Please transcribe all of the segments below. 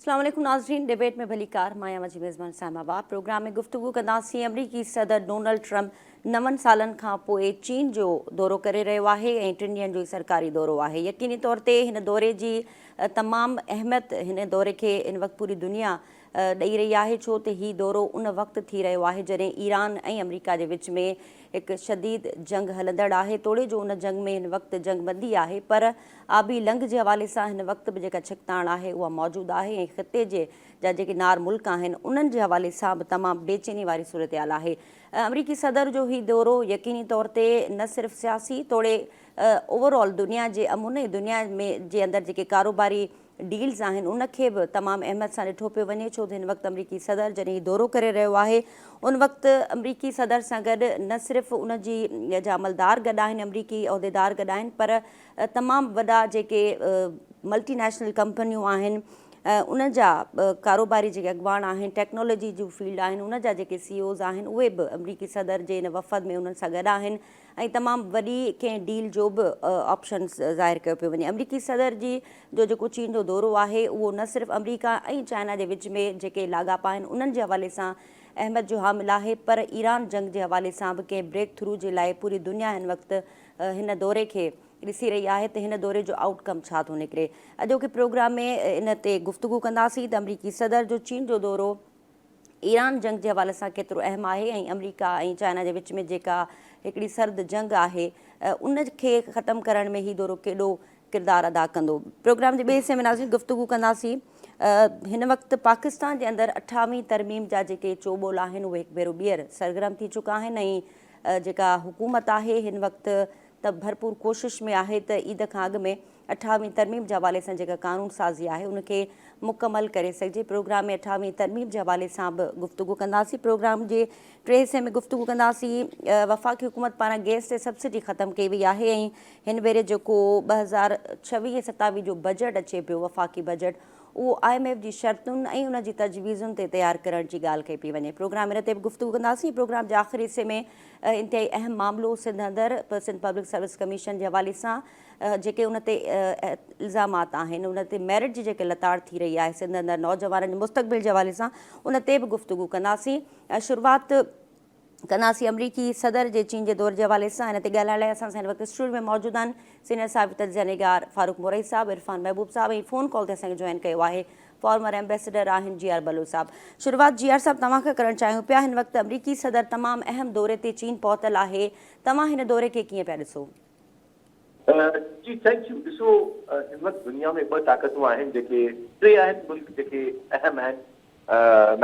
اسلام عليڪم ناظرين ڊبيٽ ۾ ڀليڪار مان آهيان جي ميزبان اسلام آباد پروگرام ۾ گفتگو ڪنداسين آمريڪي صدر ڊونلڊ ٽرمپ نون سالن کان پوء چين جو دورو ڪري رهيو آهي ۽ ٽن ڏينهن جو سرڪاري دورو آهي يقيني طور تي هن دوري جي تمام اهميت هن دوري کي ان وقت پوري دنيا ڏئي رهي آهي ڇو ته هي دورو ان وقت ٿي رهيو آهي جڏهن ايران ۽ آمريڪا جي وچ ۾ هڪ شديد جنگ هلندڙ آهي توڙي جو ان جنگ ۾ هن وقت جنگ بندي آهي پر آبي لنگهه جي حوالي سان هن وقت به جيڪا ڇڪتاڻ آهي اها موجود آهي ۽ خطي جي جا جيڪي نار ملڪ آهن انهن جي حوالي سان به تمام بي چيني واري صورتحال آهي آمريڪي صدر جو هي دورو يقيني طور تي نه صرف سياسي توڙي اوور آل دنيا جي امن ۽ دنيا ۾ جي اندر جيڪي ڪاروباري ڊيلز آهن ان کي به تمام اهميت سان ڏٺو پيو وڃي ڇو ته هن وقت امريڪي صدر جڏهن هي دورو ڪري رهيو آهي ان وقت امريڪي صدر سان گڏ نه صرف ان جي جا عملدار گڏ آهن امريڪي عهديدار گڏ آهن پر تمام وڏا جيڪي ملٽي نيشنل ڪمپنيون آهن ان جا ڪاروباري جيڪي اڳواڻ آهن ٽيڪنالاجي جون فيلڊ آهن ان جا جيڪي سي اوز آهن اهي به امريڪي صدر جي ان وفد ۾ انهن سان گڏ آهن ۽ تمام وڏي ڪنهن ڊيل جو به آپشن ظاهر ڪيو پيو وڃي. آمريڪي صدر جي جو جيڪو چين جو دورو آهي اهو نه صرف آمريڪا ۽ چائنا جي وچ ۾ جيڪي لاڳاپا آهن انهن جي حوالي سان اهميت جو حامل آهي پر ايران جنگ جي حوالي سان به ڪنهن بريڪ ٿرو جي لاء پوري دنيا هن وقت هن دوري کي ڏسي رهي آهي ته هن دوري جو آئوٽ ڪم ڇا ٿو نڪري اڄوڪي پروگرام ۾ ان تي گفتگو ڪنداسين ته آمريڪي صدر جو چين جو دورو. ايران جنگ جي حوالي سان ڪيترو اهم آهي ۽ آمريڪا ۽ چائنا جي وچ ۾ جيڪا هڪڙي سرد جنگ آهي ان کي ختم ڪرڻ ۾ هي دورو ڪيڏو ڪردار ادا ڪندو پروگرام جي ٻئي حصي ۾ ناظرين گفتگو ڪنداسين هن وقت پاڪستان جي اندر اٺاوين ترميم جا جيڪي چوٻول آهن اهي هڪ ڀيرو ٻيهر سرگرم ٿي چڪا آهن ۽ جيڪا حڪومت آهي هن وقت ته ڀرپور ڪوشش ۾ آهي ته عيد کان اڳ ۾ اٺاويهين ترميم جي حوالي سان جيڪا قانون سازي آهي ان کي مڪمل ڪري سگهجي، پروگرام ۾ اٺاويهين ترميم جي حوالي سان به گفتگو ڪنداسين، پروگرام جي ٽئين حصي ۾ گفتگو ڪنداسين، وفاقي حڪومت پاران گئس تي سبسڊي ختم ڪئي وئي آهي ۽ هن ڀيري جيڪو ٻه هزار ڇويهه ۽ ستاويهه جو بجيٽ اچي پيو وفاقي بجيٽ اهو آء ايم ايف جي شرطن ۽ ان جي تجويزن تي تيار ڪرڻ جي ڳالهه ڪئي پئي وڃي، پروگرام ان تي به گفتگو ڪنداسين، پروگرام جي آخري حصي ۾ انتهائي اهم معاملو سنڌ اندر پ سنڌ پبلڪ سروس ڪميشن جي حوالي سان جيڪي ان تي الزامات آهن ان تي ميرٽ جي جيڪي لتاڙ ٿي رهي آهي سنڌ اندر نوجوانن جي مستقبل جي حوالي سان ان تي به گفتگو ڪنداسين شروعات ڪنداسين آمريڪي صدر جي چين جي دور جي حوالي سان ان تي ڳالهائڻ لاء اسان سان هن وقت اسٽوڊيو ۾ موجود آهن سينيئر صاحب تجزيه نگار فاروق مورئي صاحب عرفان محبوب صاحب ۽ فون ڪال تي اسان کي جوائن ڪيو آهي فارمر ايمبيسيڊر آهن جي آر بلوچ صاحب. شروعات جي آر صاحب توهان کان ڪرڻ چاهيون پيا هن وقت امريڪي صدر تمام اهم دوري تي چين پهتل آهي توهان هن دوري کي ڪيئن پيا ڏسو. جي ٿينڪ يو ڏسو هن وقت دنيا ۾ ٻه طاقتون آهن جيڪي ٽي آهن ملڪ جيڪي اهم آهن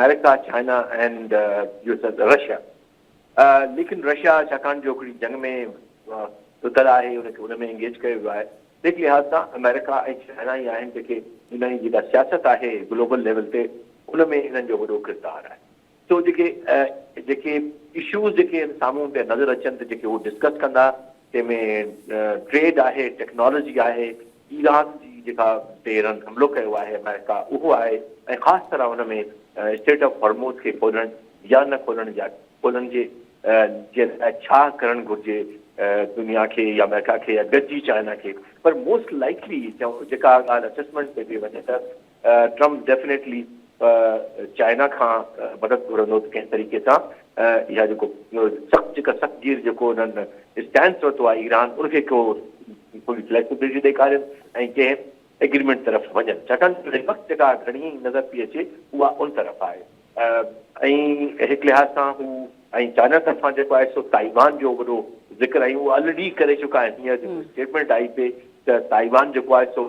امريڪا چائنا اينڊ رشيا. ليڪن رشيا ڇاڪاڻ جو ھڪڙي جنگ ۾ رڌل آھي ان کي ان ۾ انگيج ڪيو ويو آھي تنھن لحاظ سان آمريڪا ۽ چائنا ئي آھن جيڪي انھن جي جيڪا سياست آھي گلوبل ليول تي ان ۾ انھن جو وڏو ڪردار آھي سو جيڪي جيڪي اشوز جيڪي سامھون پيا نظر اچن ته جيڪي ھو ڊسڪس ڪندا تنهن ۾ ٽريڊ آهي، ٽيڪنالاجي آهي، ايران جي جيڪا تي هنن حملو ڪيو آهي آمريڪا اهو آهي ۽ خاص طرح ان ۾ اسٽريٽ آف هرموز کي کولڻ يا نه کولڻ جا کولڻ جي جي لاء ڇا ڪرڻ گهرجي دنيا کي يا آمريڪا کي يا گڏجي چائنا کي پر موسٽ لائيڪلي جيڪا ڳالهه اسيسمينٽ تي به وڃي ته ٽرمپ ڊيفنيٽلي چائنا کان مدد گهرندو ته ڪنهن طريقي سان اها جيڪو سخت جيڪا سخت گير جيڪو انهن اسٽينس ورتو آهي ايران ان کي ڪو ٿوري فليڪسبلٽي ڏيکارين ۽ ڪنهن ايگريمينٽ طرف وڃن ڇاڪاڻ جو هن وقت جيڪا گهڻي نظر پئي اچي اها ان طرف آهي ۽ هڪ لحاظ سان هو ۽ چائنا طرفان جيڪو آهي سو تائيوان جو وڏو ذڪر ۽ اهو الريڊي ڪري چڪا آهن هينئر جيڪو اسٽيٽمينٽ آئي پئي ته تائيوان جيڪو آهي سو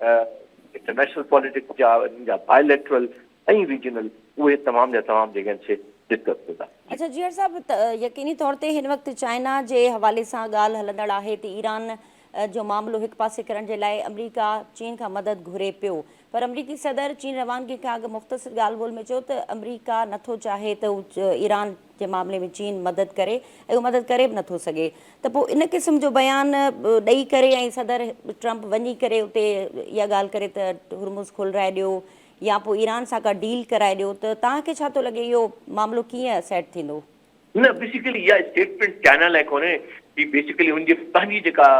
انٽرنيشنل پاليٽڪس جا انهن جا بائي ليٽرل ۽ ريجنل اهي تمام جا تمام جيڪي آهن سي ڊسڪس ٿيندا. اڇا جيئر صاحب يقيني طور تي هن وقت چائنا جي حوالي سان ڳالهه هلندڙ آهي ته ايران جو معاملو هڪ پاسي ڪرڻ جي لاء امريڪا چين کان مدد گهري پيو پر امريڪي صدر چين روانگي کان اڳ مختصر ڳالهه ٻولهه ۾ چيو ته امريڪا نٿو چاهي ته ايران جي معاملي ۾ چين مدد ڪري ۽ اهو مدد ڪري به نٿو سگهي ته پوء ان قسم جو بيان ڏئي ڪري ۽ صدر ٽرمپ وڃي ڪري اتي اها ڳالهه ڪري ته هرمز کولرائي ڏيو يا پوء ايران سان ڪا ڊيل ڪرائي ڏيو ته توهان کي ڇا ٿو لڳي اهو معاملو ڪيئن سيٽ ٿيندو؟ نه بيسيڪلي اها اسٽيٽمينٽ چائنا لاء ڪونهي هي بيسيڪلي ان جي پنهنجي جيڪا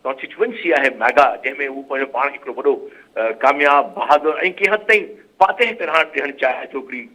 ڪانسٽيچوئنسي آهي ميگا جنهن ۾ هو پنهنجو پاڻ کي هڪڙو وڏو ڪامياب بهادر ۽ ڪنهن حد تائين فاتح پرهاڻ ڏيڻ چاهي ٿو هڪڙي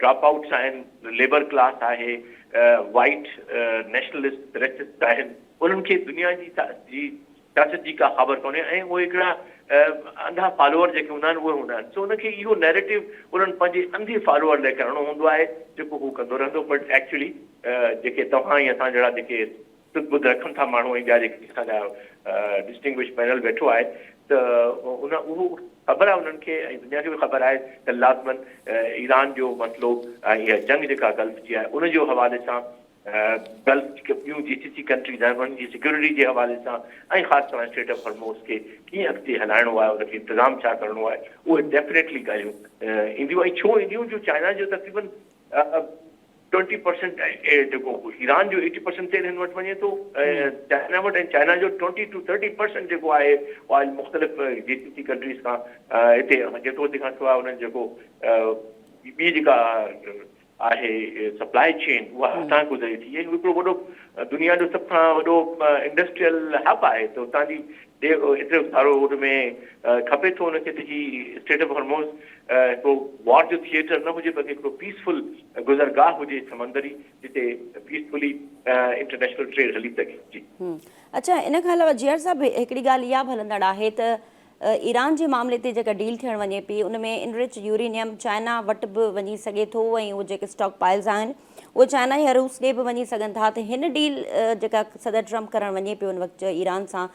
ڊراپ آئوٽس آهن، ليبر ڪلاس آهي، وائيٽ نيشنلسٽ ريسسٽ آهن، انهن کي دنيا جي سياست جي ڪا خابر ڪونهي ۽ اهي هڪڙا انڌا فالوور جيڪي هوندا آهن اهي هوندا آهن سو انهن کي اهو نيريٽو انهن پنهنجي انڌي فالوور لاء ڪرڻو هوندو آهي جيڪو هو ڪندو رهندو بٽ ايڪچلي جيڪي توهان ۽ اسان جهڙا جيڪي سڌ ٻڌ رکن ٿا ماڻهو ۽ ٻيا جيڪي اسان جا ڊسٽنگوش پينل ويٺو آهي ته ان اهو خبر آهي انهن کي ۽ دنيا کي به خبر آهي ته لازمن ايران جو مسئلو ۽ اها جنگ جيڪا گلف جي آهي ان جو حوالي سان گلف جيڪي ٻيون جي سي سي ڪنٽريز آهن انهن جي سيڪيورٽي جي حوالي سان ۽ خاص طرح اسٽريٽ آف هرموز کي ڪيئن اڳتي هلائڻو آهي ان کي انتظام ڇا ڪرڻو آهي اهي ڊيفنيٽلي ڳالهيون اينديون ۽ ڇو اينديون جو چائنا جو تقريبن ٽوئنٽي پرسينٽ جيڪو ايران جو ايٽي پرسينٽ تيل هن وٽ وڃي ٿو چائنا وٽ ۽ چائنا جو ٽوئنٽي ٽو ٿرٽي پرسينٽ جيڪو آهي آئل مختلف جي سي سي ڪنٽريز کان هتي جيڪو تنهن کان سواء انهن جيڪو ٻي جيڪا آهي سپلاء چين اها هتان گذري ٿي ۽ هڪڙو وڏو دنيا جو سڀ کان وڏو انڊسٽريل هب آهي ته هتان جي هتي سارو ان ۾ کپي ٿو ان کي ته جي اسٽيٽ آف هرموز ڪو وار جو ٿيئٽر نه هجي بلڪه هڪڙو پيس فل گذرگاهه هجي سمندري جتي پيس فلي انٽرنيشنل ٽريڊ هلي سگهي جي. اڇا ان کان علاوه جيئر صاحب هڪڙي ڳالهه اها به هلندڙ آهي ته ايران جي معاملي تي جيڪا ڊيل ٿيڻ وڃي پئي ان ۾ انرچ يورينيم چائنا وٽ به وڃي سگهي ٿو ۽ اهي جيڪي اسٽاڪ پائلز آهن اهي چائنا يا روس ڏي به وڃي سگهن ٿا ته هن ڊيل جيڪا صدر ٽرمپ ڪرڻ وڃي پيو ان وقت ايران سان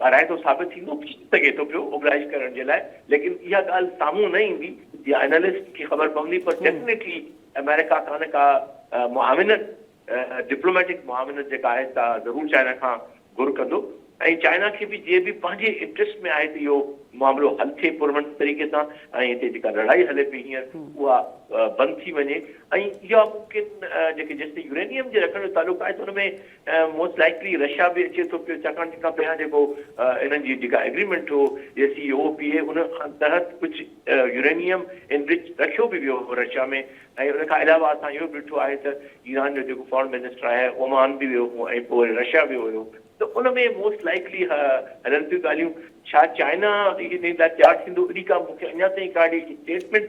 ڀرائتو ثابت ٿيندو ٿي سگهي ٿو پيو اوٻراهي ڪرڻ جي لاء ليڪن اها ڳالهه سامهون نه ايندي يا انالسٽ کي خبر پوندي پر ڊيفنيٽلي آمريڪا کان ڪا معاونت ڊپلوميٽڪ معاونت جيڪا آهي سا ضرور چائنا کان گهر ڪندو ۽ چائنا کي به جيئن به پنهنجي انٽريسٽ ۾ آهي ته اهو معاملو حل ٿئي پرامن طريقي سان ۽ هتي جيڪا لڙائي هلي پئي هينئر اها بند ٿي وڃي ۽ اها ممڪن جيڪي جيستائين يورينيم جي رکڻ جو تعلق آهي ته ان ۾ ۽ موسٽ لائيڪلي رشيا به اچي ٿو پيو ڇاڪاڻ جتان پهريان جيڪو انهن جي جيڪا ايگريمينٽ هو JCPOA ان تحت ڪجهه يورينيم انرچ رکيو به ويو هو رشيا ۾ ۽ ان کان علاوه اسان اهو به ڏٺو آهي ته ايران جو جيڪو فارن منسٽر آهي اومان به ويو هو ۽ پوء وري رشيا ويو هيو ته ان ۾ موسٽ لائيڪلي اها هلن ٿيون ڳالهيون ڇا چائنا ان لاء تيار ٿيندو اڙي ڪا مون کي اڃا تائين ڪا اڙي اسٽيٽمينٽ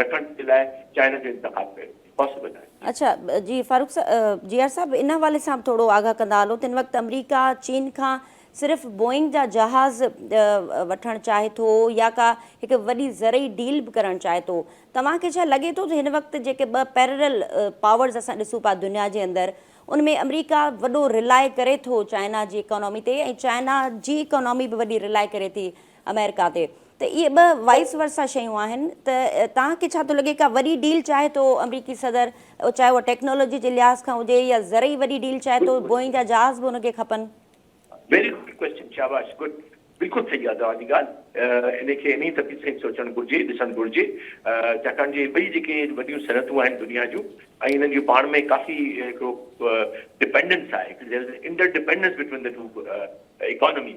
رکڻ جي لاء چائنا جو انتخاب ڪيو وڃي حوصلو ڏيڻ جي. اڇا جي فاروق جي آر صاحب ان حوالي سان به ٿورو آگاهه ڪندا هلو تن وقت امريڪا چين کان صرف بوئنگ جا جهاز وٺڻ چاهي ٿو يا ڪا هڪ وڏي زرعي ڊيل به ڪرڻ چاهي ٿو توهان کي ڇا لڳي ٿو ته هن وقت جيڪي ٻه پيررل پاورز اسان ڏسون پيا دنيا جي اندر ان ۾ امريڪا وڏو رلاء ڪري ٿو چائنا جي اڪانامي تي ۽ چائنا جي اڪانامي به وڏي رلاء ڪري ٿي آمريڪا تي ته اهي ٻه وائيس ورسا شيون آهن ته توهان کي ڇا ٿو لڳي ڪا وڏي ڊيل چاهي ٿو آمريڪي صدر چاهي اها ٽيڪنالاجي جي لحاظ کان هجي يا زرعي وڏي ڊيل چاهي ٿو بوئنگ جا جهاز به ان کي کپن. ويري گڊ ڪويسچن شاباش گڊ بلڪل صحيح آهي توهان جي ڳالهه ان کي انهي ترتيب سان ئي سوچڻ گهرجي ڏسڻ گهرجي ڇاڪاڻ جو اهي ٻئي جيڪي وڏيون صنعتون آهن دنيا جون ۽ انهن جون پاڻ ۾ ڪافي هڪڙو ڊپينڊنس آهي هڪڙي طرح سان inter dependence between the two economy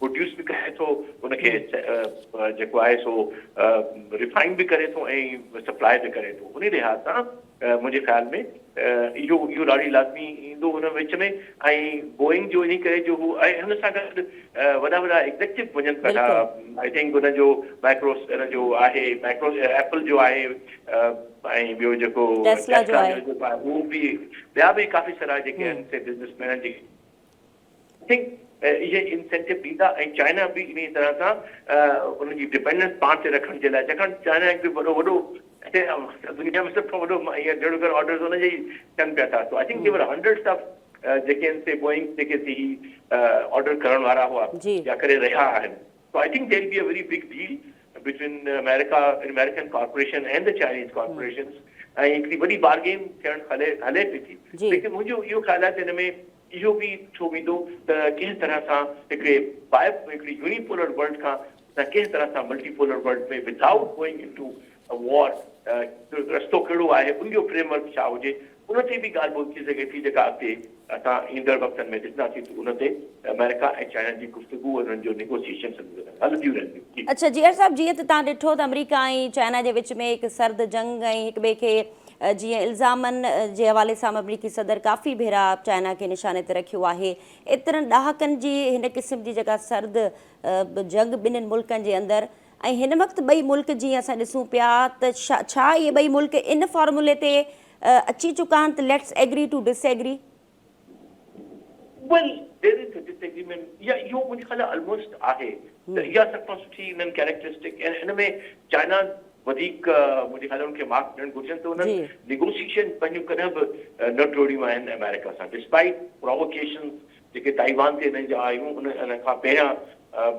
produce به ڪري ٿو ان کي جيڪو آهي سو ريفائن به ڪري ٿو ۽ سپلاء به ڪري ٿو انهي لحاظ سان منهنجي خيال ۾ اهو اهو راڙي لازمي ايندو ان وچ ۾ ۽ بوئنگ جو انهي ڪري جو هو ۽ هن سان گڏ وڏا وڏا ايگزيڪٽو وڃن پيا ٿا آئي ٿنڪ ان جو مائڪروس ان جو آهي مائڪرو ايپل جو آهي ۽ ٻيو جيڪو ٽيسلا جو آهي اهو به ٻيا به ڪافي سارا جيڪي آهن سي بزنس مين جيڪي سنگ اهي انسينٽو ڏيندا ۽ چائنا به انهي طرح سان انهن جي ڊپينڊنس پاڻ تي رکڻ جي لاء ڇاڪاڻ ته چائنا هڪ وڏو وڏو دنيا ۾ سڀ کان وڏو جهڙو ڪر آرڊرز انهن جي ٿين پيا ٿا so I think they were hundreds of جيڪي آهن سي بوئنگ جيڪي سي آرڊر ڪرڻ وارا هئا يا ڪري رهيا آهن so I think there be a very big deal between America American corporation and the Chinese corporations ۽ هڪڙي وڏي بارگين ٿيڻ هلي هلي پئي ٿي ليڪن منهنجو اهو خيال آهي ته هن ۾ اهو به ٿيو ويندو ته ڪنهن طرح سان هڪڙي بائي هڪڙي يوني پولر ورلڊ کان اسان ڪنهن طرح سان multipolar world ۾ without going into war رستو ڪهڙو آهي ان جو فريم ورڪ ڇا هجي ان تي به ڳالهه ٻولهه ٿي سگهي ٿي جيڪا اڳتي اسان ايندڙ وقتن ۾ ڏسنداسين ته ان تي آمريڪا ۽ چائنا جي گفتگو انهن جو نيگوسيشنس هلنديون رهنديون. جي. اڇا جيئر صاحب جيئن ته تهان ڏٺو ته آمريڪا ۽ چائنا جي وچ ۾ هڪ سرد جنگ ۽ هڪ ٻئي کي جيئن الزامن جي حوالي سان مملڪي صدر ڪافي ڀيرا چائنا کي نشاني تي رکيو آهي. ايترن ڏهاڪن جي هن قسم جي جيڪا سرد جنگ ٻنهن ملڪن جي اندر ۽ هن وقت ٻئي ملڪ جيئن اسان ڏسون پيا ته ڇا اهي ٻئي ملڪ ان فارمولي تي اچي چڪا آهن ته let's agree to disagree. Well there is disagreement يا اهو منهنجي خيال ۾ الموسٽ آهي ته اها سڀ کان سٺي انهن ڪيريڪٽرسٽڪ ۽ ان ۾ چائنا وڌيڪ منهنجي خيال ۾ ان کي مارڪس ڏيڻ گهرجن ته انهن نيگوسيشن پنهنجون ڪڏهن به نه ٽوڙيون آهن آمريڪا سان ڊسپائيٽ پراووڪيشنز جيڪي تائيوان تي انهن جا آيون ان ان کان پهريان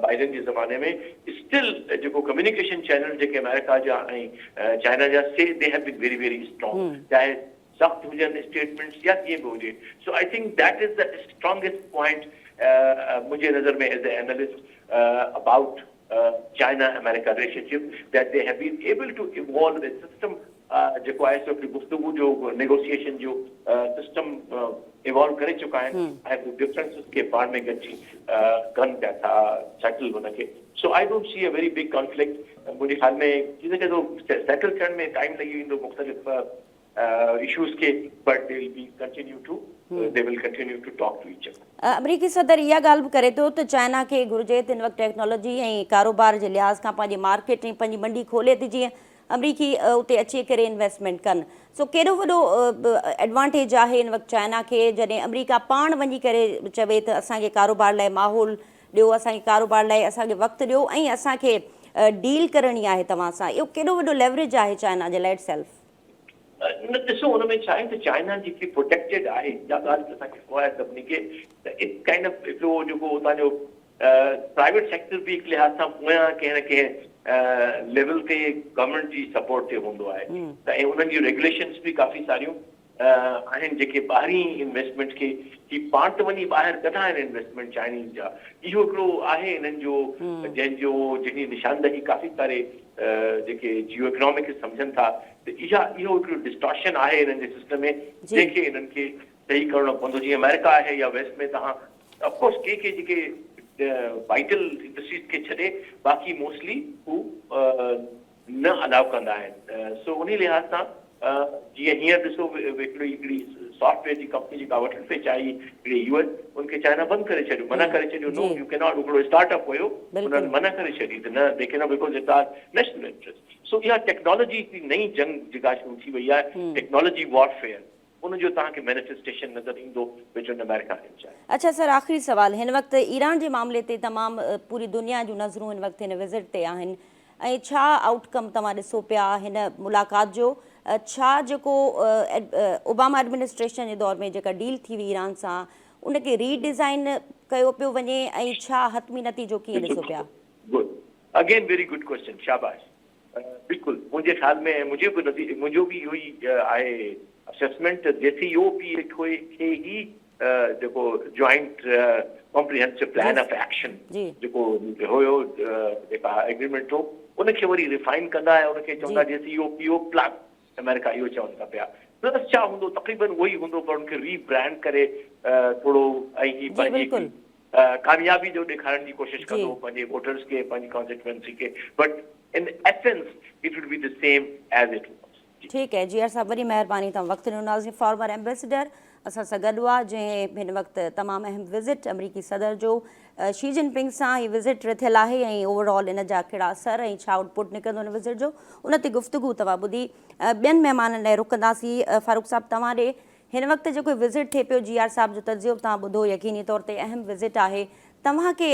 بائيڊن جي زماني ۾ اسٽل جيڪو ڪميونيڪيشن چينلز جيڪي آمريڪا جا ۽ چائنا جا سي the have been very very strong چاهي سخت هجن اسٽيٽمينٽس يا جيئن به هجي so I think that is the strongest point منهنجي نظر ۾ as a analyst about China America relationship that they have been able to evolve a system جيڪو آهي سو هڪ گفتگو جو نيگوسيئيشن جو سسٽم ايوالو ڪري چڪا آهن ۽ هو ڊفرنسز کي پاڻ ۾ گڏجي ڪن پيا ٿا سيٽل هن کي so I don't see a very big conflict منهنجي خيال ۾ ٿي سگهي ٿو سيٽل ٿيڻ ۾ ٽائيم لڳي ويندو مختلف issues کي but they will be continue to they will continue to talk to each other. آمريڪي صدر اها ڳالهه به ڪري ٿو ته چائنا کي گهرجي ته هن وقت ٽيڪنالاجي ۽ ڪاروبار جي لحاظ کان پنهنجي مارڪيٽ ۽ پنهنجي منڊي کولي ته جيئن آمريڪي اتي اچي ڪري انويسٽمينٽ ڪن سو ڪيڏو وڏو ايڊوانٽيج آهي هن وقت چائنا کي جڏهن آمريڪا پاڻ وڃي ڪري چوي ته اسان کي ڪاروبار لاء ماحول ڏيو اسان کي ڪاروبار لاء اسان کي وقت ڏيو ۽ اسان کي ڊيل ڪرڻي آهي توهان سان اهو ڪيڏو وڏو ليوريج آهي چائنا جي لاء اٽ سيلف. نه ڏسو ان ۾ ڇا آهي ته چائنا جيڪي پروٽيڪٽيڊ آهي اها ڳالهه ته اسان کي خبر آهي سڀني کي ته اٽس ڪائنڊ آف هڪڙو جيڪو اتان جو پرائيويٽ سيڪٽر به هڪ لحاظ سان پويان ڪنهن نه ڪنهن ليول تي گورنمينٽ جي سپورٽ تي هوندو آهي ته ۽ انهن جون ريگوليشنس به ڪافي ساريون آهن جيڪي ٻاهرين انويسٽمينٽ کي هي پاڻ ته وڃي ٻاهر ڪڍا آهن انويسٽمينٽ چائنيز جا اهو هڪڙو آهي انهن جو جنهن جو جنهن جي نشاندهي ڪافي ساري جيڪي جيو اڪنامڪس سمجهن ٿا ته اها اهو هڪڙو ڊسٽارشن آهي انهن جي سسٽم ۾ جنهن کي انهن کي صحيح ڪرڻو پوندو جيئن آمريڪا آهي يا ويسٽ ۾ توهان اف ڪورس ڪي ڪي جيڪي وائٽل انڊسٽريز کي ڇڏي باقي موسٽلي هو نه الاء ڪندا آهن سو انهي لحاظ سان جيئن هينئر ڏسو هڪڙي هڪڙي سافٽ ويئر جي ڪمپني جيڪا وٺڻ پئي چاهي هڪڙي يو اين ان کي چائنا بند ڪري ڇڏيو منع ڪري ڇڏيو نو يو ڪيناٽ هڪڙو اسٽارٽ اپ هيو انهن منع ڪري ڇڏي ته نه they cannot because it's our national interest so اها ٽيڪنالاجي هڪڙي نئين جنگ جيڪا شروع ٿي وئي آهي ٽيڪنالاجي وار فيئر ان جو توهان کي مينيفيسٽيشن نظر ايندو بٽوين امريڪا اينڊ چائنا. اڇا سر آخري سوال هن وقت ايران جي معاملي تي تمام پوري دنيا جون نظرون هن وقت هن وزٽ تي آهن ۽ ڇا آئوٽ ڪم توهان ڏسو پيا هن ملاقات جو؟ ڇا جيڪو اوباما ايڊمنسٽريشن جي دور ۾ جيڪا ڊيل ٿي هئي ايران سان ان کي ري ڊيزائن ڪيو پيو وڃي ۽ ڇا حتمي نتيجو ڪيئن ڏسو پيا؟ Good again very good question شاباش بلڪل منهنجي خيال ۾ منهنجو به نظر منهنجو به اهو ئي آهي اسيسمينٽ ته جيسي او پي اي کي هي جيڪو joint comprehensive plan of action جيڪو هيو جيڪا ايگريمينٽ هو ان کي وري ريفائن ڪندا ۽ ان کي چوندا JCPOA plus America اهو چون ٿا پيا پلس ڇا هوندو تقريبن اهو ئي هوندو پر ان کي ري برانڊ ڪري ٿورو ۽ هي پنهنجي ڪاميابي جو ڏيکارڻ جي ڪوشش ڪندو پنهنجي ووٽرز کي پنهنجي ڪانسٽيٽوئنسي کي but in essence it would be the same as it was ٺيڪ اي جي آر صاحب وڏي مهرباني توهان وقت ڏنو ناظرين فارمر ايمبيسيڊر اسان سان گڏ هئا جنهن هن وقت تمام اهم وزٽ امريڪي صدر جو شي جن پنگ سان هي وزٽ رٿيل آهي ۽ اوور آل ان جا ڪهڙا اثر ۽ ڇا آؤٽ پٽ نڪرندو ان وزٽ جو ان تي گفتگو توهان ٻڌي ٻين مهمانن لاء رکنداسين فاروق صاحب توهان ڏي هن وقت جيڪو وزٽ ٿي پيو جي آر صاحب جو تجزيو به توهان ٻڌو يقيني طور تي اهم وزٽ آهي توهان کي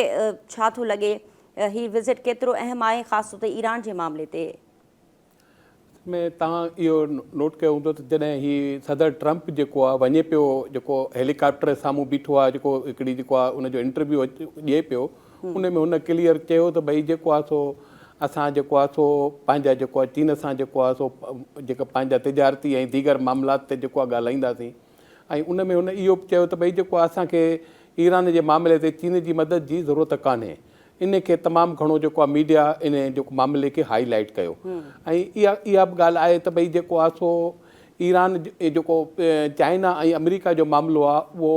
ڇا ٿو لڳي هي وزٽ ڪيترو اهم آهي خاص طور تي ايران جي معاملي تي ۾ توهان اهو نوٽ ڪيو هوندو ته جڏهن هي صدر ٽرمپ جيڪو آهي وڃي پيو جيڪو هيلي ڪاپٽر سامهون بيٺو آهي جيڪو هڪڙي جيڪو آهي ان جو انٽرويو ڏئي پيو ان ۾ هن ڪليئر چيو ته ڀئي جيڪو آهي سو اسان جيڪو آهي سو پنهنجا جيڪو آهي چين سان جيڪو آهي سو جيڪا پنهنجا تجارتي ۽ ديگر معاملات تي جيڪو آهي ڳالهائينداسين ۽ ان ۾ هن اهو به چيو ته ڀئي جيڪو اسان کي ايران جي معاملي تي چين جي مدد جي ضرورت ڪانهي ان کي تمام گهڻو جيڪو آهي ميڊيا ان جيڪو معاملي کي هائي لائيٽ ڪيو ۽ اها اها به ڳالهه آهي ته ڀئي جيڪو آهي سو ايران جيڪو چائنا ۽ آمريڪا جو معاملو آهي اهو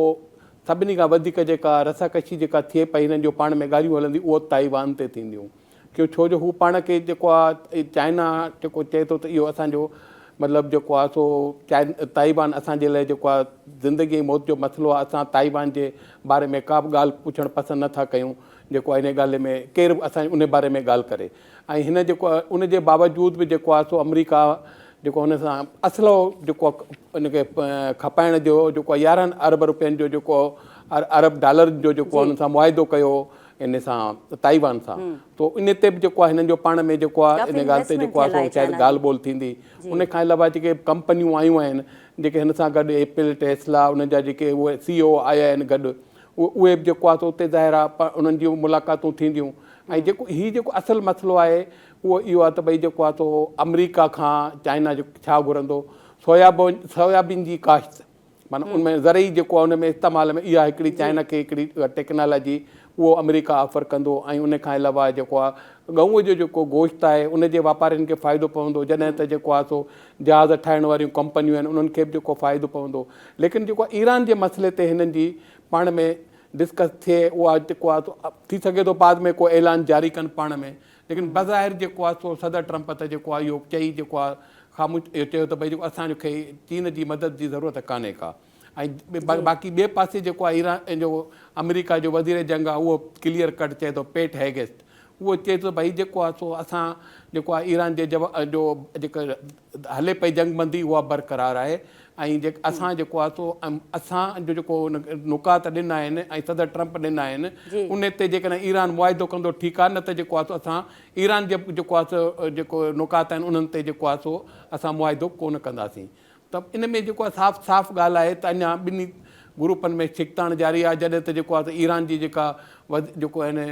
سڀني کان وڌيڪ جيڪا رساڪشي جيڪا ٿئي پئي هنن جو پاڻ ۾ ڳالهيون هلنديون اهو تائيوان تي ٿينديون. ڪيو ڇو جو هو پاڻ کي جيڪو آ چائنا جيڪو چئي ٿو ته اهو اسان جو مطلب جيڪو آ سو تائيوان اسان جي لاء جيڪو آ زندگي ۽ موت جو مسئلو آ اسان تائيوان جي باري ۾ ڪا به ڳالهه پڇڻ پسند نه ٿا ڪيون جيڪو آ انهي ڳالهه ۾ ڪير به اسان انهي باري ۾ ڳالهه ڪري ۽ هن جيڪو آ ان جي باوجود به جيڪو آ سو آمريڪا جيڪو هن سان اسلحو جيڪو ان کي کپائڻ جو جيڪو يارهن ارب روپين جو جيڪو ارب ڊالرن جو جيڪو ان سان معاهدو ڪيو ان سان تائيوان سان تو ان تي به جيڪو آهي هنن جو پاڻ ۾ جيڪو آهي ان ڳالهه تي جيڪو آهي سو شايد ڳالهه ٻولهه ٿيندي ان کان علاوه جيڪي ڪمپنيون آيون آهن جيڪي هن سان گڏ ايپل ٽيسلا انهن جا جيڪي اهي سي او آيا آهن گڏ اهي به جيڪو آهي سو اتي ظاهر آهي انهن جون ملاقاتون ٿينديون ۽ جيڪو هي جيڪو اصل مسئلو آهي اهو اهو آهي ته ڀئي جيڪو آهي سو آمريڪا کان چائنا جيڪو ڇا گهرندو سويابون سويابين جي ڪاشت معنيٰ ان ۾ زرعي جيڪو آهي ان ۾ استعمال ۾ اها هڪڙي چائنا کي هڪڙي ٽيڪنالاجي اهو آمريڪا آفر ڪندو ۽ ان کان علاوه جيڪو آهي ڳئون جو جيڪو گوشت آهي ان جي واپارين کي فائدو پوندو جڏهن ته جيڪو آهي سو جهاز ٺاهڻ واريون ڪمپنيون آهن انهن کي به جيڪو فائدو پوندو ليڪن جيڪو آهي ايران جي مسئلي تي هنن جي پاڻ ۾ ڊسڪس ٿئي اها جيڪو آهي سو ٿي سگهي ٿو بعد ۾ ڪو اعلان جاري ڪن پاڻ ۾ ليڪن بظاهر جيڪو آهي سو صدر ٽرمپ ته جيڪو آهي اهو چئي جيڪو آهي خاموش اهو چيو ته ڀئي جيڪو اسان کي چين جي مدد جي ضرورت ڪانهي ڪا ۽ باقي ٻئي پاسي جيڪو آهي ايران جو آمريڪا جو وزير جنگ آهي اهو ڪليئر ڪٽ چئي ٿو پيٽ هيگسٽ اهو چئي ٿو ڀئي جيڪو آهي سو اسان جيڪو آهي ايران جي جو جيڪا هلي پئي جنگ بندي اها برقرار آهي ۽ جيڪ اسان جيڪو آهي سو اسان جو جيڪو نقاط ڏنا آهن ۽ صدر ٽرمپ ڏنا آهن ان تي جيڪڏهن ايران معاهدو ڪندو ٺيڪ آهي نه ته جيڪو آهي سو اسان ايران جي جيڪو آهي سو جيڪو نقاط آهن انهن تي جيڪو آهي سو اسان معاهدو ڪو نه ڪنداسين ته ان ۾ جيڪو آهي صاف صاف ڳالهه آهي ته اڃا ٻنهي گروپن ۾ ڇڪتاڻ جاري آهي جڏهن ته جيڪو آهي سو ايران جي جيڪا جيڪو آهن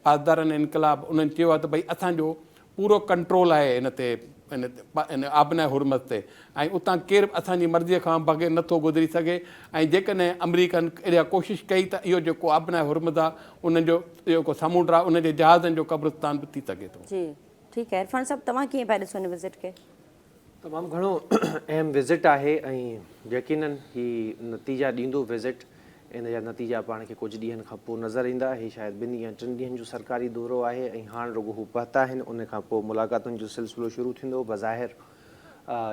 پاسداران انقلاب انهن چيو آهي ته ڀئي اسان جو پورو ڪنٽرول آهي ان تي ان آبناء هرمز تي ۽ اتان ڪير به اسان جي مرضي کان بغير نه ٿو گذري سگهي ۽ جيڪڏهن آمريڪن اها ڪوشش ڪئي ته اهو جيڪو آبناء هرمز آهي انهن جو جيڪو سمنڊ آهي ان جي جهازن جو قبرستان به ٿي سگهي ٿو. جي ٺيڪ آهي عرفان صاحب توهان ڪيئن پيا ڏسو ان وزٽ کي. تمام گهڻو اهم وزٽ آهي ۽ يقينن هي نتيجا ڏيندو وزٽ ان جا نتيجا پاڻ کي ڪجهه ڏينهن کان پوء نظر ايندا هي شايد ٻن يا ٽن ڏينهن جو سرڪاري دورو آهي ۽ هاڻ رڳو هو پهتا آهن ان کان پوء ملاقاتن جو سلسلو شروع ٿيندو بظاهر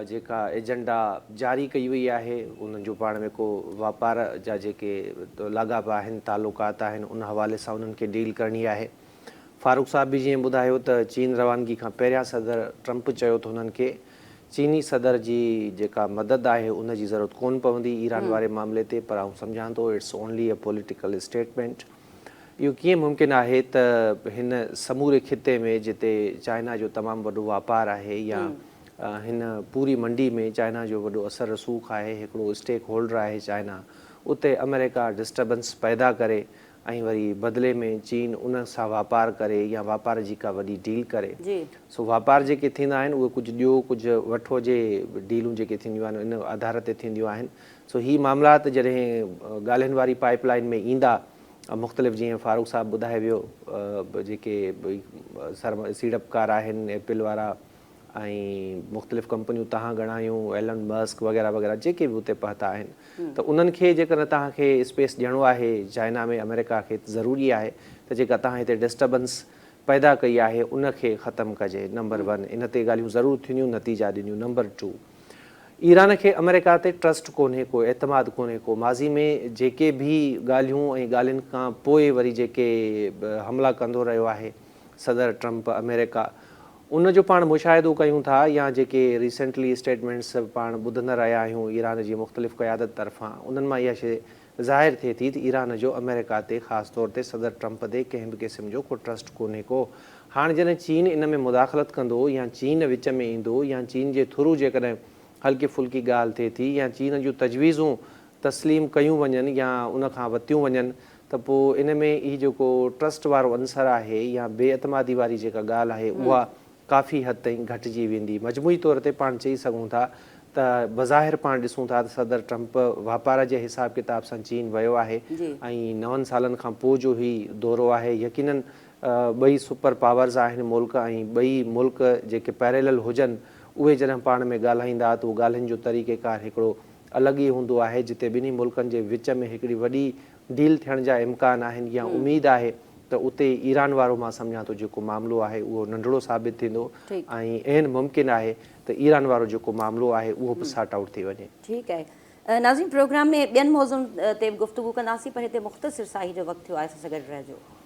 جيڪا ايجنڊا جاري ڪئي وئي آهي انهن جو پاڻ ۾ ڪو واپار جا جيڪي لاڳاپا آهن تعلقات آهن ان حوالي سان انهن کي ڊيل ڪرڻي آهي. فاروق صاحب به جيئن ٻڌايو ته چين روانگي کان پهريان صدر ٽرمپ چيو ته هنن کي چيني صدر جي جيڪا مدد آهي ان جي ضرورت ڪونه پوندي ايران واري معاملي تي پر آئون سمجهان ٿو it's only a political statement اهو ڪيئن ممڪن آهي ته هن سموري خطي ۾ جتي چائنا جو تمام وڏو واپار آهي يا هن پوري منڊي ۾ چائنا جو وڏو اثر رسوخ آهي هڪڙو اسٽيڪ هولڊر آهي چائنا اتي امريڪا ڊسٽربنس پيدا ڪري ۽ وري بدلي ۾ چين انهن سان واپار ڪري يا واپار جي ڪا وڏي ڊيل ڪري جي. سو واپار جيڪي ٿيندا آهن اهي ڪجهه ڏيو ڪجهه وٺو جي ڊيلون جيڪي ٿينديون آهن ان آڌار تي ٿينديون آهن سو هي معاملات جڏهن ڳالهين واري پائيپ لائين ۾ ايندا مختلف جيئن فاروق صاحب ٻڌائي ويو به جيڪي سيڙپڪار آهن ايپل وارا ۽ مختلف ڪمپنيون تهان ڳڻايون ايلن مسڪ وغيره وغيره جيڪي به اتي پهتا آهن ته انهن کي جيڪڏهن توهان کي اسپيس ڏيڻو آهي چائنا ۾ آمريڪا کي ته ضروري آهي ته جيڪا توهان هتي ڊسٽربنس پيدا ڪئي آهي ان کي ختم ڪجي نمبر ون ان تي ڳالهيون ضرور ٿينديون نتيجا ڏينديون نمبر ٽو ايران کي آمريڪا تي ٽرسٽ ڪونهي ڪو اعتماد ڪونهي ڪو ماضي ۾ جيڪي به ڳالهيون ۽ ڳالهين کان پوء وري جيڪي حملا ڪندو رهيو آهي صدر ٽرمپ آمريڪا ان جو پاڻ مشاهدو ڪيون ٿا يا جيڪي ريسينٽلي اسٽيٽمينٽس پاڻ ٻڌندا رهيا آهيون ايران جي مختلف قيادت طرفان انهن مان اها شيء ظاهر ٿئي ٿي ته ايران جو آمريڪا تي خاص طور تي صدر ٽرمپ تي ڪنهن به قسم جو ڪو ٽرسٽ ڪونهي ڪو هاڻ جڏهن چين ان ۾ مداخلت ڪندو يا چين وچ ۾ ايندو يا چين جي ٿرو جيڪڏهن هلڪي ڦلڪي ڳالهه ٿئي ٿي يا چين جون تجويزون تسليم ڪيون وڃن يا ان کان وتيون وڃن ته پوء ان ۾ هي جيڪو ٽرسٽ وارو عنصر آهي يا بي اعتمادي واري جيڪا ڳالهه آهي اها ڪافي حد تائين گهٽجي ويندي. مجموعي طور تي پاڻ چئي سگهون ٿا ته بظاهر پاڻ ڏسون ٿا ته صدر ٽرمپ واپار جي حساب ڪتاب سان چين ويو آهي ۽ نون سالن کان پوء جو هي دورو آهي. يقينن ٻئي سپر پاورز آهن ملڪ ۽ ٻئي ملڪ جيڪي پيريلل هجن اهي جڏهن پاڻ ۾ ڳالهائيندا ته اهو ڳالهين جو طريقيڪار هڪڙو الڳ ئي هوندو آهي جتي ٻنهي ملڪن جي وچ ۾ هڪڙي وڏي ڊيل ٿيڻ جا امڪان آهن يا اميد آهي ته اتي ايران وارو مان سمجهان ٿو جيڪو معاملو آهي اهو ننڍڙو ثابت ٿيندو ۽ عين ممڪن آهي ته ايران وارو جيڪو معاملو آهي اهو به سارٽ آئوٽ ٿي وڃي. ٺيڪ آهي ناظرين پروگرام ۾ ٻين موضوعن تي به گفتگو ڪنداسين پر هتي مختصر ساهي جو وقت ٿيو آهي سان سان گڏ رهجو.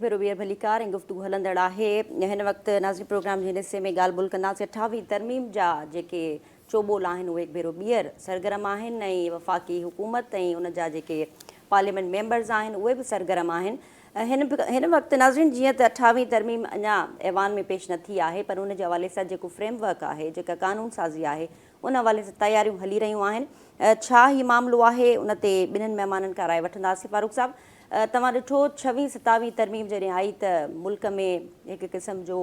ڀيرو ڀير ڀليڪار ۽ گفتگو هلندڙ آهي. هن وقت ناظرين پروگرام جي هن حصي ۾ ڳالهه ٻولهه ڪنداسين اٺاوهين ترميم جا جيڪي چوٻول آهن اهي هڪ ڀيرو ٻيهر سرگرم آهن ۽ وفاقي حڪومت ۽ ان جا جيڪي پارليامينٽ ميمبرز آهن اهي به سرگرم آهن هن هن وقت ناظرين جيئن ته اٺاوهين ترميم اڃا ايوان ۾ پيش نه ٿي آهي پر ان جي حوالي سان جيڪو فريم ورڪ آهي جيڪا قانون سازي آهي ان حوالي سان تياريون هلي رهيون آهن ڇا هي معاملو آهي ان تي ٻنهن مهمانن کان راء وٺنداسين فاروق صاحب توهان ڏٺو ڇوهين ستاويهين ترميم جڏهن آئي ته ملڪ ۾ هڪ قسم جو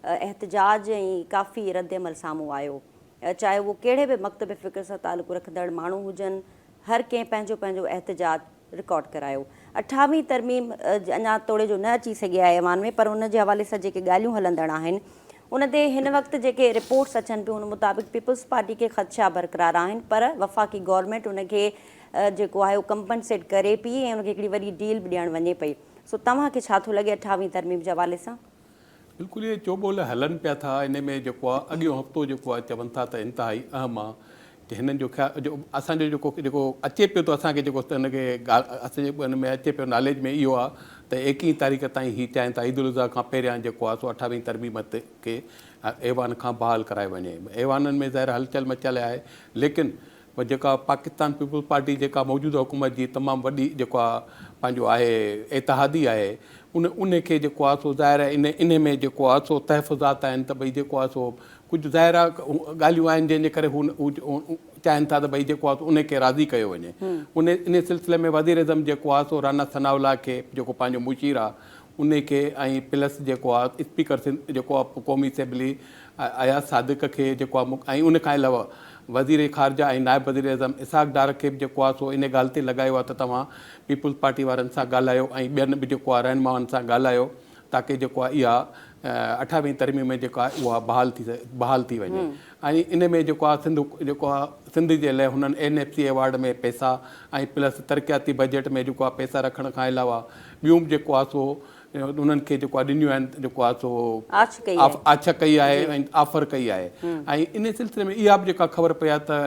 احتجاج ۽ ڪافي ردعمل سامهون آيو چاهي اهو ڪهڙي به مڪتب فڪر سان تعلق رکندڙ ماڻهو هجن هر ڪنهن پنهنجو پنهنجو احتجاج رڪارڊ ڪرايو اٺاويهين ترميم اڃا توڙي جو نه اچي سگهي آهي ايوان ۾ پر ان جي حوالي سان جيڪي ڳالهيون هلندڙ آهن ان تي هن وقت جيڪي رپورٽس اچن پيون ان مطابق پيپلز پارٽي کي خدشا برقرار آهن پر وفاقي گورنمينٽ ان کي جيڪو آهي اهو ڪمپنسيٽ ڪري پئي ۽ ان کي هڪڙي وڏي ڊيل به ڏيڻ وڃي پئي سو توهان کي ڇا ٿو لڳي اٺاويهين ترميم جي حوالي سان؟ بلڪل اهي چوٻول هلن پيا ٿا ان ۾ جيڪو آهي اڳيون هفتو جيڪو آهي چون ٿا ته انتهائي اهم آهي ته هنن جو خيال جو اسان جو جيڪو جيڪو اچي پيو ته اسان کي جيڪو ان کي اسان جي ان ۾ اچي پيو ناليج ۾ اهو آهي ته ايڪيهين تاريخ تائين هي چاهين ٿا عيد الاضحيٰ کان پهريان جيڪو آهي سو اٺاويهين ترميم کي ايوان کان بحال ڪرائي وڃي ايوانن ۾ ظاهر هلچل مچل آهي ليڪن پر جيڪا پاڪستان پيپلز پارٽي جيڪا موجوده حڪومت جي تمام وڏي جيڪو آ پنهنجو آهي اتحادي آهي ان ان کي جيڪو آ سو ظاهر آهي ان ان ۾ جيڪو آ سو تحفظات آهن ته ڀئي جيڪو آ سو ڪجهه ظاهر آ ڳالهيون آهن جنهن جي ڪري هو چاهين ٿا ته ڀئي جيڪو آ سو ان کي راضي ڪيو وڃي ان ان سلسلي ۾ وزيراعظم جيڪو آ سو رانا ثناء الله کي جيڪو پنهنجو مشير آ ان کي ۽ پلس جيڪو آ اسپيڪر سنڌ جيڪو آ قومي اسيمبلي اياز صادق کي جيڪو آ مڪ ۽ ان کان علاوه وزير خارجه ۽ نائب وزير اعظم اسحاق ڊار کي به جيڪو آ سو ان ڳالهه تي لڳايو آ ته توهان پيپلز پارٽي وارن سان ڳالهايو ۽ ٻين به جيڪو آ رهنمائن سان ڳالهايو تاڪه جيڪو آ اها اٺاويهين ترميم ۾ جيڪا آ اها بحال ٿي بحال ٿي وڃي ۽ ان ۾ جيڪو آ سنڌ جيڪو آ سنڌ جي لئه هنن اين ايف سي ايوارڊ ۾ پئسا ۽ پلس ترقياتي بجيٽ ۾ جيڪو آ پئسا رکڻ کان علاوه ٻيون به جيڪو آ سو انهن کي جيڪو آ ڏنيون آهن جيڪو آ سو آڇ ڪئي آهي ۽ آفر ڪئي آهي ۽ ان سلسلي ۾ اها به جيڪا خبر پئي آهي ته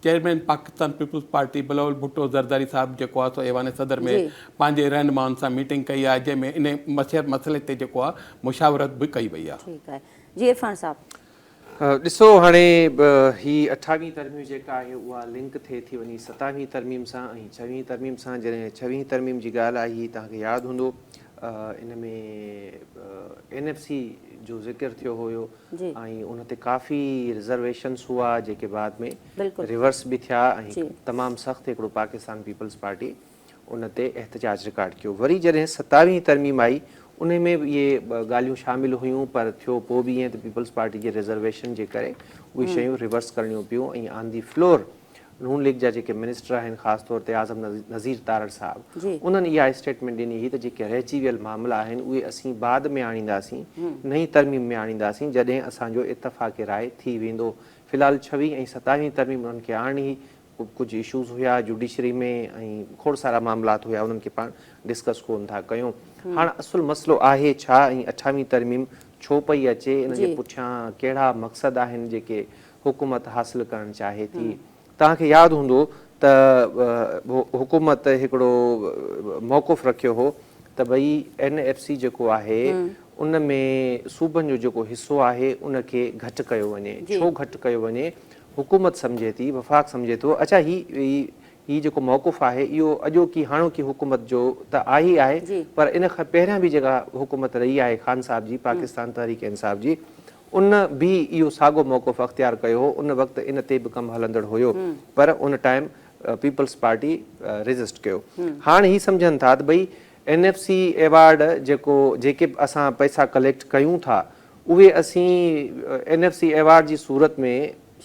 چيئرمين پاڪستان پيپلز پارٽي بلاول ڀٽو زرداري صاحب جيڪو آ سو ايوان صدر ۾ پنهنجي رهنمائن سان ميٽنگ ڪئي آهي جنهن ۾ ان مسئلي تي جيڪو آ مشاورت به ڪئي وئي آهي. ڏسو هاڻي به هي اٺاويهين ترميم جيڪا آهي اها لنڪ ٿئي ٿي وڃي ستاويهين ترميم سان ۽ ڇويهين ترميم سان جڏهن ڇويهين ترميم جي ڳالهه آئي توهان کي ياد هوندو ان ۾ اين ايف سي جو ذڪر ٿيو هيو ۽ ان تي ڪافي رزرويشنس هئا جيڪي بعد ۾ ريورس به ٿيا ۽ تمام سخت هڪڙو پاڪستان پيپلز پارٽي ان تي احتجاج رڪارڊ ڪيو. وري جڏهن ستاويهين ترميم آئي انهي ۾ به اهي ڳالهيون شامل هيون پر ٿيو پوء به ائين ته پيپلز پارٽي جي ريزرويشن جي ڪري اهي شيون ريورس ڪرڻيون پيون ۽ on the floor Noon League جا جيڪي منسٽر آهن خاص طور تي اعظم نذير تارڙ صاحب انهن اها اسٽيٽمينٽ ڏني هئي ته جيڪي رهجي ويل معاملا آهن اهي اسين بعد ۾ آڻينداسين نئين ترميم ۾ آڻينداسين جڏهن اسان جو اتفاق راء ٿي ويندو في الحال ڇويهين ۽ ستاويهين ترميم انهن کي آڻڻي هئي ڪجهه اشوز هيا جوڊيشري ۾ ۽ کوڙ سارا معاملات هيا انهن کي پاڻ ڊسڪس ڪون ٿا ڪيون هاڻ اصل مسئلو آهي ڇا ۽ اٺاويهين ترميم ڇو پئي اچي ان جي پٺيان ڪهڙا مقصد آهن جيڪي حڪومت حاصل ڪرڻ چاهي ٿي توهان کي ياد هوندو ته حڪومت هڪڙو موقف رکيو هو ته ڀئي اين ايف سي جيڪو آهي ان ۾ صوبن جو جيڪو حصو آهي ان کي گهٽ ڪيو وڃي ڇو گهٽ ڪيو وڃي حڪومت سمجهي ٿي، وفاق سمجهي ٿو، اڇا هي هي جيڪو موقف آهي اهو اڄوڪي هاڻوڪي حڪومت جو ته آهي ئي آهي پر ان کان پهريان به جيڪا حڪومت رهي آهي خان صاحب جي پاڪستان تحريڪ انصاف جي ان به اهو ساڳو موقف اختيار ڪيو هو ان وقت ان تي به ڪم هلندڙ هيو پر ان ٽائيم پيپلز پارٽي ريزسٽ ڪيو هاڻ هي سمجهن ٿا ته ڀئي اين ايف سي ايوارڊ جيڪو جيڪي به اسان پئسا ڪليڪٽ ڪيون ٿا اهي اسين اين ايف سي ايوارڊ جي صورت ۾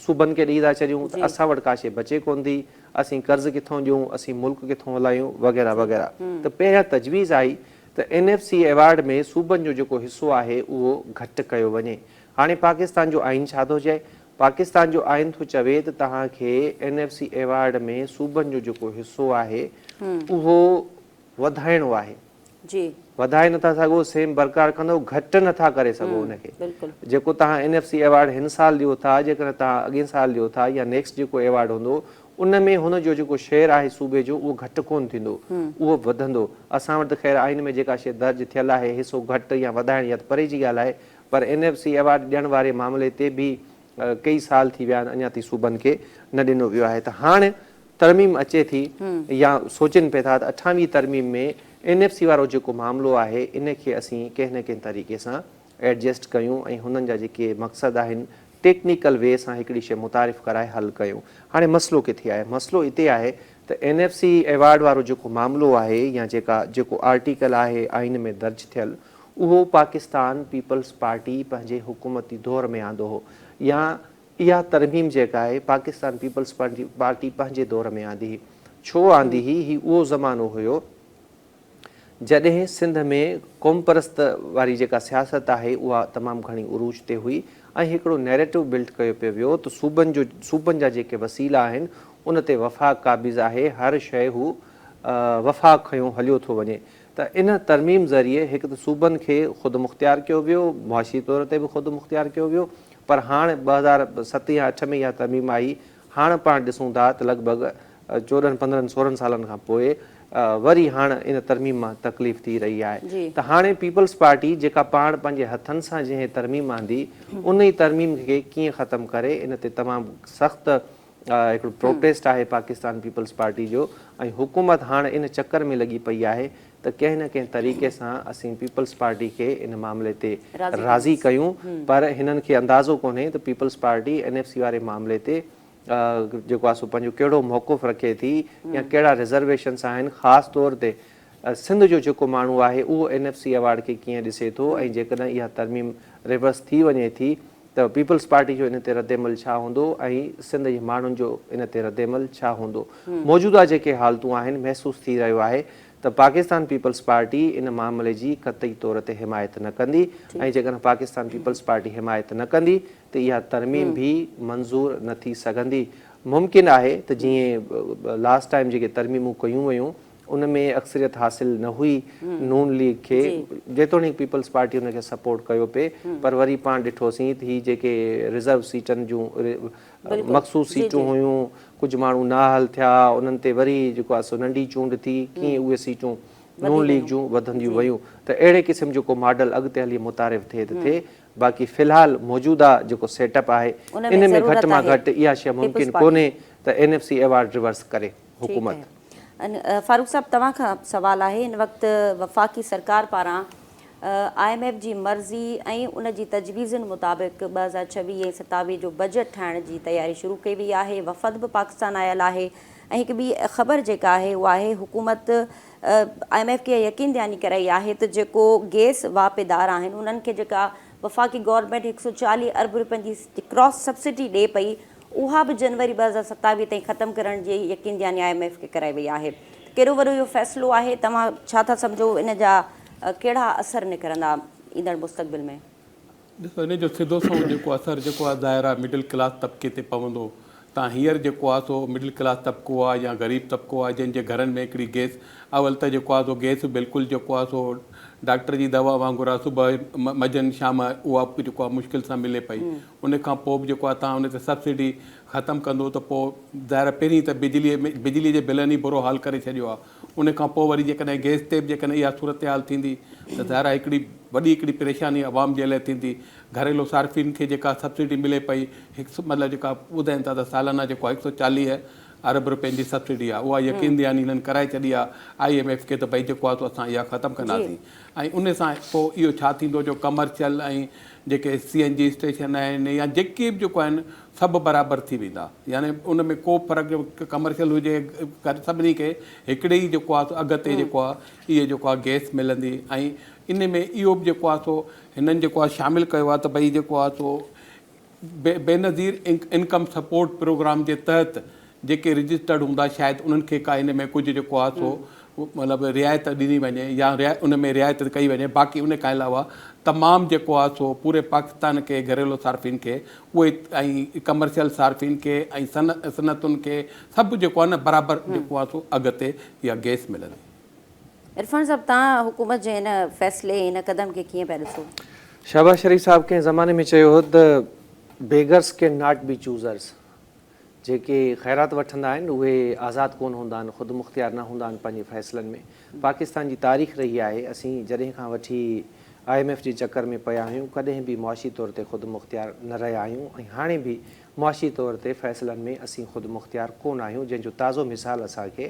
صوبن کي ڏئي ٿا ڇڏيون ته اسان وٽ ڪا شيء بچي ڪونه ٿي، اسين قرض ڪٿون ڏيون، اسين ملڪ ڪٿون هلايون وغيره وغيره ته پهريان تجويز آئي ته اين ايف سي ايوارڊ ۾ صوبن جو جيڪو حصو آهي اهو گهٽ ڪيو وڃي. هاڻي پاڪستان جو آئين ڇا ٿو چئي؟ پاڪستان جو آئين ٿو چوي ته توهان کي اين ايف سي ايوارڊ ۾ صوبن جو جيڪو حصو آهي اهو وڌائڻو آهي جي وڌائي نٿا سگهو سيم برقرار ڪندو گهٽ نٿا ڪري سگهو ان کي بلڪل جيڪو توهان اين ايف سي ايوارڊ هن سال ڏيو ٿا جيڪڏهن توهان اڳين سال ڏيو ٿا يا نيڪسٽ جيڪو ايوارڊ هوندو ان ۾ هن جو جيڪو شيئر آهي صوبي جو اهو گهٽ ڪون ٿيندو اهو وڌندو اسان وٽ ته خير آئين ۾ جيڪا شيء درج ٿيل آهي حصو گهٽ يا وڌائڻ يا ته پري جي ڳالهه آهي پر اين ايف سي ايوارڊ ڏيڻ واري معاملي تي به ڪيئي سال ٿي ويا آهن اڃا تائين صوبن کي نه ڏنو ويو آهي ته هاڻ ترميم اچي ٿي يا سوچين پئي ٿا ته اٺاويهين ترميم ۾ اين ايف سي وارو جيڪو معاملو آهي ان کي اسين ڪنهن نه ڪنهن طريقي سان ايڊجسٽ ڪيون ۽ هنن جا جيڪي مقصد آهن ٽيڪنيڪل وي سان هڪڙي شيء متعارف ڪرائي حل ڪيون. هاڻي مسئلو ڪٿي آهي؟ مسئلو اتي آهي ته اين ايف سي ايوارڊ وارو جيڪو معاملو آهي يا جيڪا جيڪو آرٽيڪل آهي آئين ۾ درج ٿيل اهو پاڪستان پيپلز پارٽي پنهنجي حڪومتي دور ۾ آندو هو يا اها ترميم جيڪا آهي پاڪستان پيپلز پارٽي پنهنجي دور ۾ آندي هئي. ڇو آندي هئي؟ هي اهو زمانو هيو جڏهن سنڌ ۾ قومپرست واري جيڪا سياست آهي اها تمام گهڻي عروج تي هئي ۽ هڪڙو نيريٽو بلڊ ڪيو پيو ويو ته صوبن جو صوبن جا جيڪي وسيلا آهن ان تي وفاق قابض آهي هر شيء هو وفاق کنيو هليو ٿو وڃي ته ان ترميم ذريعي هڪ ته صوبن کي خودمختيار ڪيو ويو معاشي طور تي به خودمختيار ڪيو ويو پر هاڻ ٻه هزار ست يا اٺ ۾ اها ترميم آئي، هاڻ پاڻ ڏسون ٿا ته لڳ ڀڳ چوڏهن پندرهن سورهن سالن کان پوء وري هاڻ ان ترميم مان تڪليف ٿي رهي آهي ته هاڻي پيپلز پارٽي جيڪا پاڻ پنهنجي هٿن سان جنهن ترميم آندي ان ئي ترميم کي ڪيئن ختم ڪري ان تي تمام سخت هڪڙو پروٽيسٽ آهي پاڪستان پيپلز پارٽي جو ۽ حڪومت هاڻ ان چڪر ۾ لڳي پئي آهي ته ڪنهن نه ڪنهن طريقي سان اسين پيپلز پارٽي کي ان معاملي تي راضي ڪيون پر هنن کي اندازو ڪونهي ته Peoples Party N F C واري معاملي تي جيڪو آهي سو پنهنجو ڪهڙو موقف رکي ٿي يا ڪهڙا رزرويشنس آهن خاص طور تي سنڌ جو جيڪو ماڻهو آهي اهو اين ايف سي ايوارڊ کي ڪيئن ڏسي ٿو ۽ جيڪڏهن اها ترميم ريورس ٿي وڃي ٿي ته پيپلز پارٽي جو ان تي ردعمل ڇا هوندو ۽ سنڌ جي ماڻهن جو ان تي ردعمل ڇا هوندو. موجوده جيڪي حالتون آهن محسوس ٿي رهيو آهي ته پاڪستان پيپلز پارٽي ان معاملي جي قطعي طور تي حمايت نه ڪندي ۽ جيڪڏهن پاڪستان پيپلز پارٽي حمايت نه ڪندي ته اها ترميم به منظور نه ٿي سگهندي ممڪن آهي ته جيئن لاسٽ ٽائيم جيڪي ترميمون ڪيون ويون ان ۾ اڪثريت حاصل نه هئي نون ليگ کي جيتوڻيڪ پيپلز پارٽي ان کي سپورٽ ڪيو پئي پر وري پاڻ ڏٺوسين هي جيڪي رزرو سيٽن جون مخصوص سيٽون هيون ڪجهه ماڻهو نااهل ٿيا انهن تي وري جيڪو آهي سو ننڍي چونڊ ٿي ڪيئن اهي سيٽون نون ليگ جون وڌنديون ويون ته اهڙي قسم جو ڪو ماڊل اڳتي هلي متعارف ٿئي ته ٿئي باقي في الحال موجوده جيڪو سيٽ اپ آهي ان ۾ گهٽ مان گهٽ اها شيء ممڪن ڪونهي ته N F C award reverse ڪري. حڪومت. فاروق صاحب توهان کان سوال آهي هن وقت وفاقي سرڪار پاران آء ايم ايف جي مرضي ۽ ان جي تجويزن مطابق ٻه هزار ڇويهه ۽ ستاويهه جو بجيٽ ٺاهڻ جي تياري شروع ڪئي وئي آهي وفد به پاڪستان آيل آهي ۽ هڪ ٻي خبر جيڪا آهي اها آهي حڪومت آء ايم ايف کي يقين دهاني ڪرائي آهي ته جيڪو گيس واهپيدار آهن انهن کي جيڪا وفاقي گورنمينٽ هڪ سؤ چاليهه ارب رپين جي ڪراس سبسڊي ڏئي پئي اها به جنوري ٻه هزار ستاويهه تائين ختم ڪرڻ جي يقين دهاني آء ايم ايف کي ڪرائي وئي آهي ته ڪهڙو وڏو اهو فيصلو آهي توهان ڇا ٿا سمجهو ان جا ڪهڙا اثر نڪرندا ايندڙ مستقبل ۾؟ ڏسو ان جو سڌو سنئون جيڪو اثر جيڪو آهي ظاهر آهي مڊل ڪلاس طبقي تي پوندو تان هينئر جيڪو آهي سو مڊل ڪلاس طبقو آهي يا غريب طبقو آهي جن جي گهرن ۾ هڪڙي گيس اول ته جيڪو آهي سو گيس بلڪل جيڪو آهي سو ڊاڪٽر جي دوا وانگر آهي صبح مجن شام اها جيڪو آهي مشڪل سان ملي پئي ان کان پوء به جيڪو آهي توهان ان تي سبسڊي ختم ڪندو ته پوء ظاهر آهي پهرين ته بجلي ۾ بجلي جي بلن ئي برو حال ڪري ڇڏيو آهي ان کان پوء وري جيڪڏهن گئس تي به جيڪڏهن اها صورتحال ٿيندي ته ظاهر آهي هڪڙي وڏي هڪڙي پريشاني عوام جي لئه ٿيندي گهريلو صارفين کي جيڪا سبسڊي ملي پئي هڪ مطلب جيڪا ٻڌائين ٿا ته سالانه جيڪو آهي هڪ سؤ چاليهه ارب رپين جي سبسڊي آهي اها يقين دهاني هنن ڪرائي ڇڏي آهي آئي ايم ايف کي ته ڀئي جيڪو آهي سو اسان اها ختم ڪنداسين ۽ ان سان پوء اهو ڇا ٿيندو جو ڪمرشل ۽ جيڪي سي اين جي اسٽيشن آهن يا جيڪي به جيڪو آهن سڀ برابر ٿي ويندا يعني ان ۾ ڪو فرق جو ڪمرشل هجي ڪر سڀني کي هڪڙي ئي جيڪو آهي سو اگهه تي جيڪو آهي اهي جيڪو آهي گئس ملندي ۽ ان ۾ اهو به جيڪو آهي سو هنن جيڪو آهي شامل ڪيو آهي ته ڀئي جيڪو آهي سو بي بينظير انڪم سپورٽ پروگرام جي تحت جيڪي رجسٽرڊ هوندا شايد انهن کي ڪا ان ۾ ڪجهه جيڪو آهي سو مطلب رعايت ڏني وڃي يا ان ۾ رعايت ڪئي وڃي باقي ان کان علاوه تمام جيڪو آهي سو پوري پاڪستان کي گهريلو صارفين کي اهي ۽ ڪمرشل صارفين کي ۽ صنعتن کي سڀ جيڪو آهي نه برابر جيڪو آهي سو اگهه تي اها گئس ملندي. عرفان صاحب توهان حڪومت جي هن فيصلي هن قدم کي ڪيئن پيا ڏسو؟ شهباز شريف صاحب ڪنهن زماني ۾ چيو هو ته بيگرس ڪين ناٽ بي چوزرس جيڪي خيرات وٺندا آهن اهي آزاد ڪونه هوندا آهن خود مختيار نه هوندا آهن پنهنجي فيصلن ۾ پاڪستان جي تاريخ رهي آهي اسين جڏهن کان وٺي آء ايم ايف جي چڪر ۾ پيا آهيون ڪڏهن به معاشي طور تي خود مختيار نه رهيا آهيون ۽ هاڻي به معاشي طور تي فيصلن ۾ اسين خود مختيار ڪونه آهيون جنهن جو تازو مثال اسان کي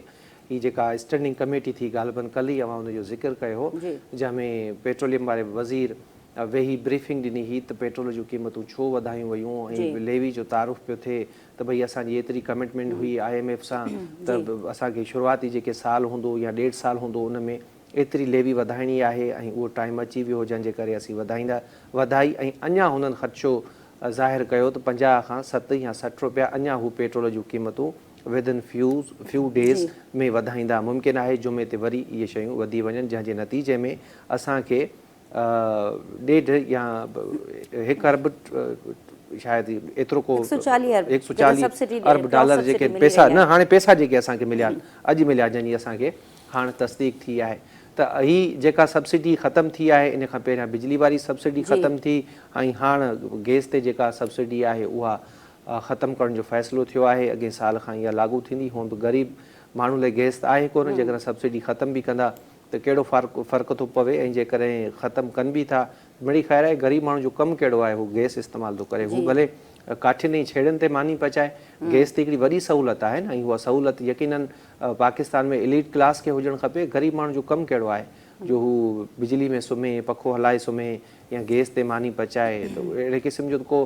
هي جيڪا اسٽينڊنگ ڪميٽي ٿي غالبن ڪلهه ئي اوهان ان جو ذڪر ڪيو هو جنهن ۾ پيٽروليم واري وزير ويهي بريفنگ ڏني هئي ته پيٽرول جون قيمتون ڇو وڌايون ويون ۽ ليوي جو تعارف پيو ٿئي ته ڀئي اسان جي ايتري ڪمٽمينٽ هئي آء ايم ايف سان ته اسان کي شروعاتي جيڪي سال هوندو يا ڏيڍ سال هوندو ان ۾ ايتري ليوي وڌائڻي آهي ۽ اهو ٽائيم اچي ويو هو جنهن جي ڪري اسين وڌائيندا وڌائي ۽ اڃا هنن خدشو ظاهر ڪيو ته پنجاهه کان ست يا سٺ روپيا اڃا هو پيٽرول جون قيمتون ودن فيو ڊيز ۾ وڌائيندا ممڪن آهي جمعي تي وري اهي شيون وڌي وڃن جنهن جي نتيجي ۾ اسان کي ڏيڍ يا هڪ ارب شايد ايترو ڪو هڪ سؤ چاليهه ارب هڪ سؤ چاليهه سبسڊي ڏيئي ارب ڊالر سبسڊي جيڪي ملي پيسا ويندا نه هاڻي پيسا جيڪي اسان کي مليا آهن اڄ مليا جنهن جي اسان کي هاڻ تصديق ٿي آهي ته هي جيڪا سبسڊي ختم ٿي آهي ان کان پهريان بجلي واري سبسڊي جي ختم ٿي ۽ هاڻ گئس تي جيڪا سبسڊي آهي اها ختم ڪرڻ جو فيصلو ٿيو آهي اڳئين سال کان اها لاڳو ٿيندي هونئن به غريب ماڻهن لاء گئس ته آهي ڪونه جيڪڏهن سبسڊي ختم به ڪندا ته ڪهڙو فرق ٿو پوي ۽ جيڪڏهن ختم ڪن به ٿا ته مڙئي خير آهي، غريب ماڻهو جو ڪم ڪهڙو آهي هو گئس استعمال ٿو ڪري، هو ڀلي ڪاٺين ۽ ڇيڙين تي ماني پچائي، گئس ته هڪڙي وڏي سهولت آهي نه ۽ اها سهولت يقينن پاڪستان ۾ اليٽ ڪلاس کي هجڻ کپي، غريب ماڻهو جو ڪم ڪهڙو آهي جو هو بجلي ۾ سمهي، پکو هلائي سمهي يا گئس تي ماني پچائي ته اهڙي قسم جو ته ڪو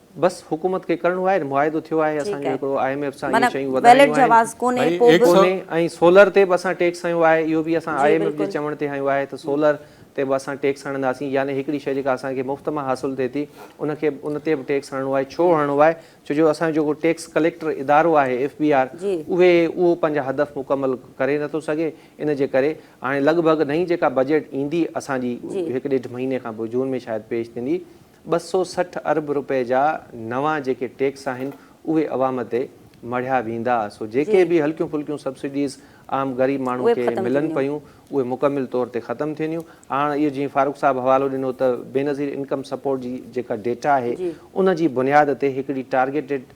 بس حڪومت کي ڪرڻو آهي معاهدو ٿيو آهي اسان جو هڪڙو آء ايم ايف سان اهي شيون وڌايون آهن ڪونهي ۽ سولر تي به اسان ٽيڪس هنيو آهي اهو به اسان آء ايم ايف جي چوڻ تي هنيو آهي ته سولر تي به اسان ٽيڪس هڻنداسين يعني هڪڙي شي جيڪا اسان کي مفت مان حاصل ٿئي ٿي ان کي ان تي به ٽيڪس هڻڻو آهي ڇو هڻڻو آهي ڇو جو اسان جو جيڪو ٽيڪس ڪليڪٽر ادارو آهي ايف بي آر اهي اهو پنهنجا هدف مڪمل ڪري نٿو سگهي ان جي ڪري هاڻي لڳ ڀڳ نئين جيڪا بجيٽ ايندي اسان جي هڪ ڏيڍ مهيني کان پوء جون ۾ شايد پيش ٿيندي ٻه سؤ سٺ ارب روپئي جا نوان جيڪي ٽيڪس آهن اهي عوام تي مڙهيا ويندا سو جيڪي به هلڪيون ڦلڪيون سبسڊيز عام غريب ماڻهو کي ملن پيون اهي مڪمل طور تي ختم ٿينديون هاڻ اهو جيئن فاروق صاحب حوالو ڏنو ته بينظير انڪم سپورٽ جي جيڪا ڊيٽا آهي ان جي بنياد تي هڪڙي ٽارگيٽيڊ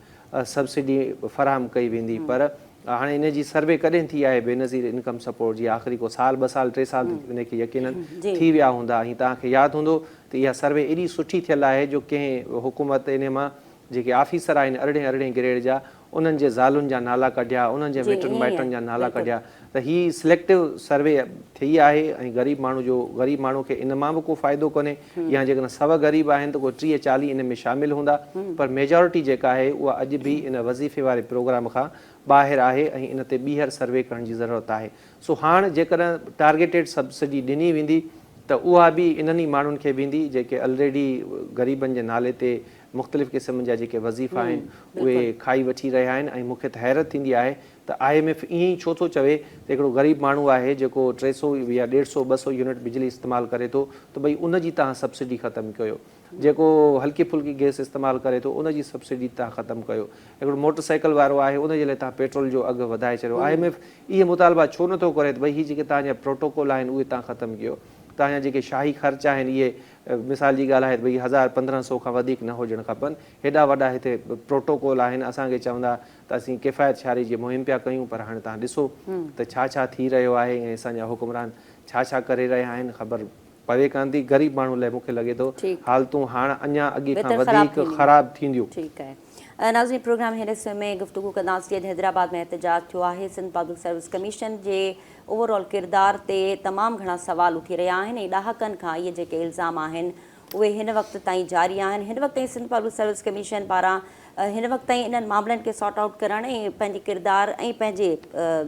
سبسڊي فراهم ڪئي ويندي پر هاڻي ان جي سروي ڪڏهن ٿي آهي بينظير انڪم سپورٽ جي آخري ڪو سال ٻه سال ٽي سال ته ان کي يقينن ٿي ويا هوندا ۽ توهان کي ياد هوندو ته اها سروي ايڏي سٺي ٿيل آهي جو ڪنهن حڪومت ان مان جيڪي آفيسر آهن ارڙهين ارڙهين گريڊ جا انهن جي زالن جا نالا ڪڍيا انهن جي مٽن مائٽن جا نالا ڪڍيا ته هي سليڪٽو سروي ٿي آهي ۽ غريب ماڻهو جو غريب ماڻهو کي ان مان به ڪو فائدو ڪونهي يا جيڪڏهن سوء غريب آهن ته ڪو ٽيهه چاليهه ان ۾ شامل هوندا پر ميجارٽي جيڪا آهي اها اڄ به ان وظيفي واري پروگرام کان ٻاهر آهي ۽ ان تي ٻيهر سروي ڪرڻ جي ضرورت آهي سو هاڻ جيڪڏهن ٽارگيٽيڊ سبسڊي ڏني ويندي ته اها به انهن ئي ماڻهن کي ويندي جيڪي الريڊي غريبن جي نالي تي مختلف قسم جا جيڪي وظيفا آهن اهي کائي وٺي رهيا آهن ۽ مون کي ته حيرت ٿيندي آهي ته آء ايم ايف ائين ئي ڇو ٿو چوي ته هڪڙو غريب ماڻهو آهي جيڪو ٽي سؤ يا ڏيڍ سؤ ٻه سؤ يونٽ بجلي استعمال ڪري ٿو ته ڀئي ان جي تهان سبسڊي ختم ڪيو جيڪو هلڪي ڦلڪي گئس استعمال ڪري ٿو ان جي سبسڊي تهان ختم ڪيو هڪڙو موٽر سائيڪل وارو آهي ان جي لاء تهان پيٽرول جو اگهه وڌائي ڇڏيو آء ايم ايف اهي مطالبا ڇو نه ٿو ڪري ته ڀئي هي جيڪي تهان جا پروٽوڪول آهن اهي تهان ختم ڪيو تهان جا جيڪي شاهي خرچ آهن اهي مثال جي ڳالهه آهي ته ڀئي هزار پندرهن سؤ کان وڌيڪ نه هجڻ کپن هيڏا وڏا هتي پروٽوڪول آهن اسان کي چوندا ته اسين ڪفايت شعاري جي مهم پيا ڪيون پر هاڻي توهان ڏسو ته ڇا ڇا ٿي رهيو آهي ۽ اسان جا حڪمران ڇا ڇا ڪري رهيا آهن خبر پوي ڪانه ٿي غريب ماڻهو لاء مون کي لڳي ٿو حالتون هاڻ اڃا اڳي کان وڌيڪ خراب ٿينديون. ٺيڪ آهي ناظرين پروگرام هن حصي ۾ گفتگو ڪنداس جيئن ته حيدرآباد ۾ احتجاج ٿيو آهي سنڌ پبلڪ سروس ڪميشن جي اوور آل ڪردار تي تمام گهڻا سوال اٿي رهيا آهن ۽ ڏهاڪن کان اهي جيڪي الزام آهن اهي هن وقت تائين جاري آهن، هن وقت تائين سنڌ پبلڪ سروس ڪميشن پاران هن وقت تائين انهن معاملن کي سارٽ آئوٽ ڪرڻ ۽ پنهنجي ڪردار ۽ پنهنجي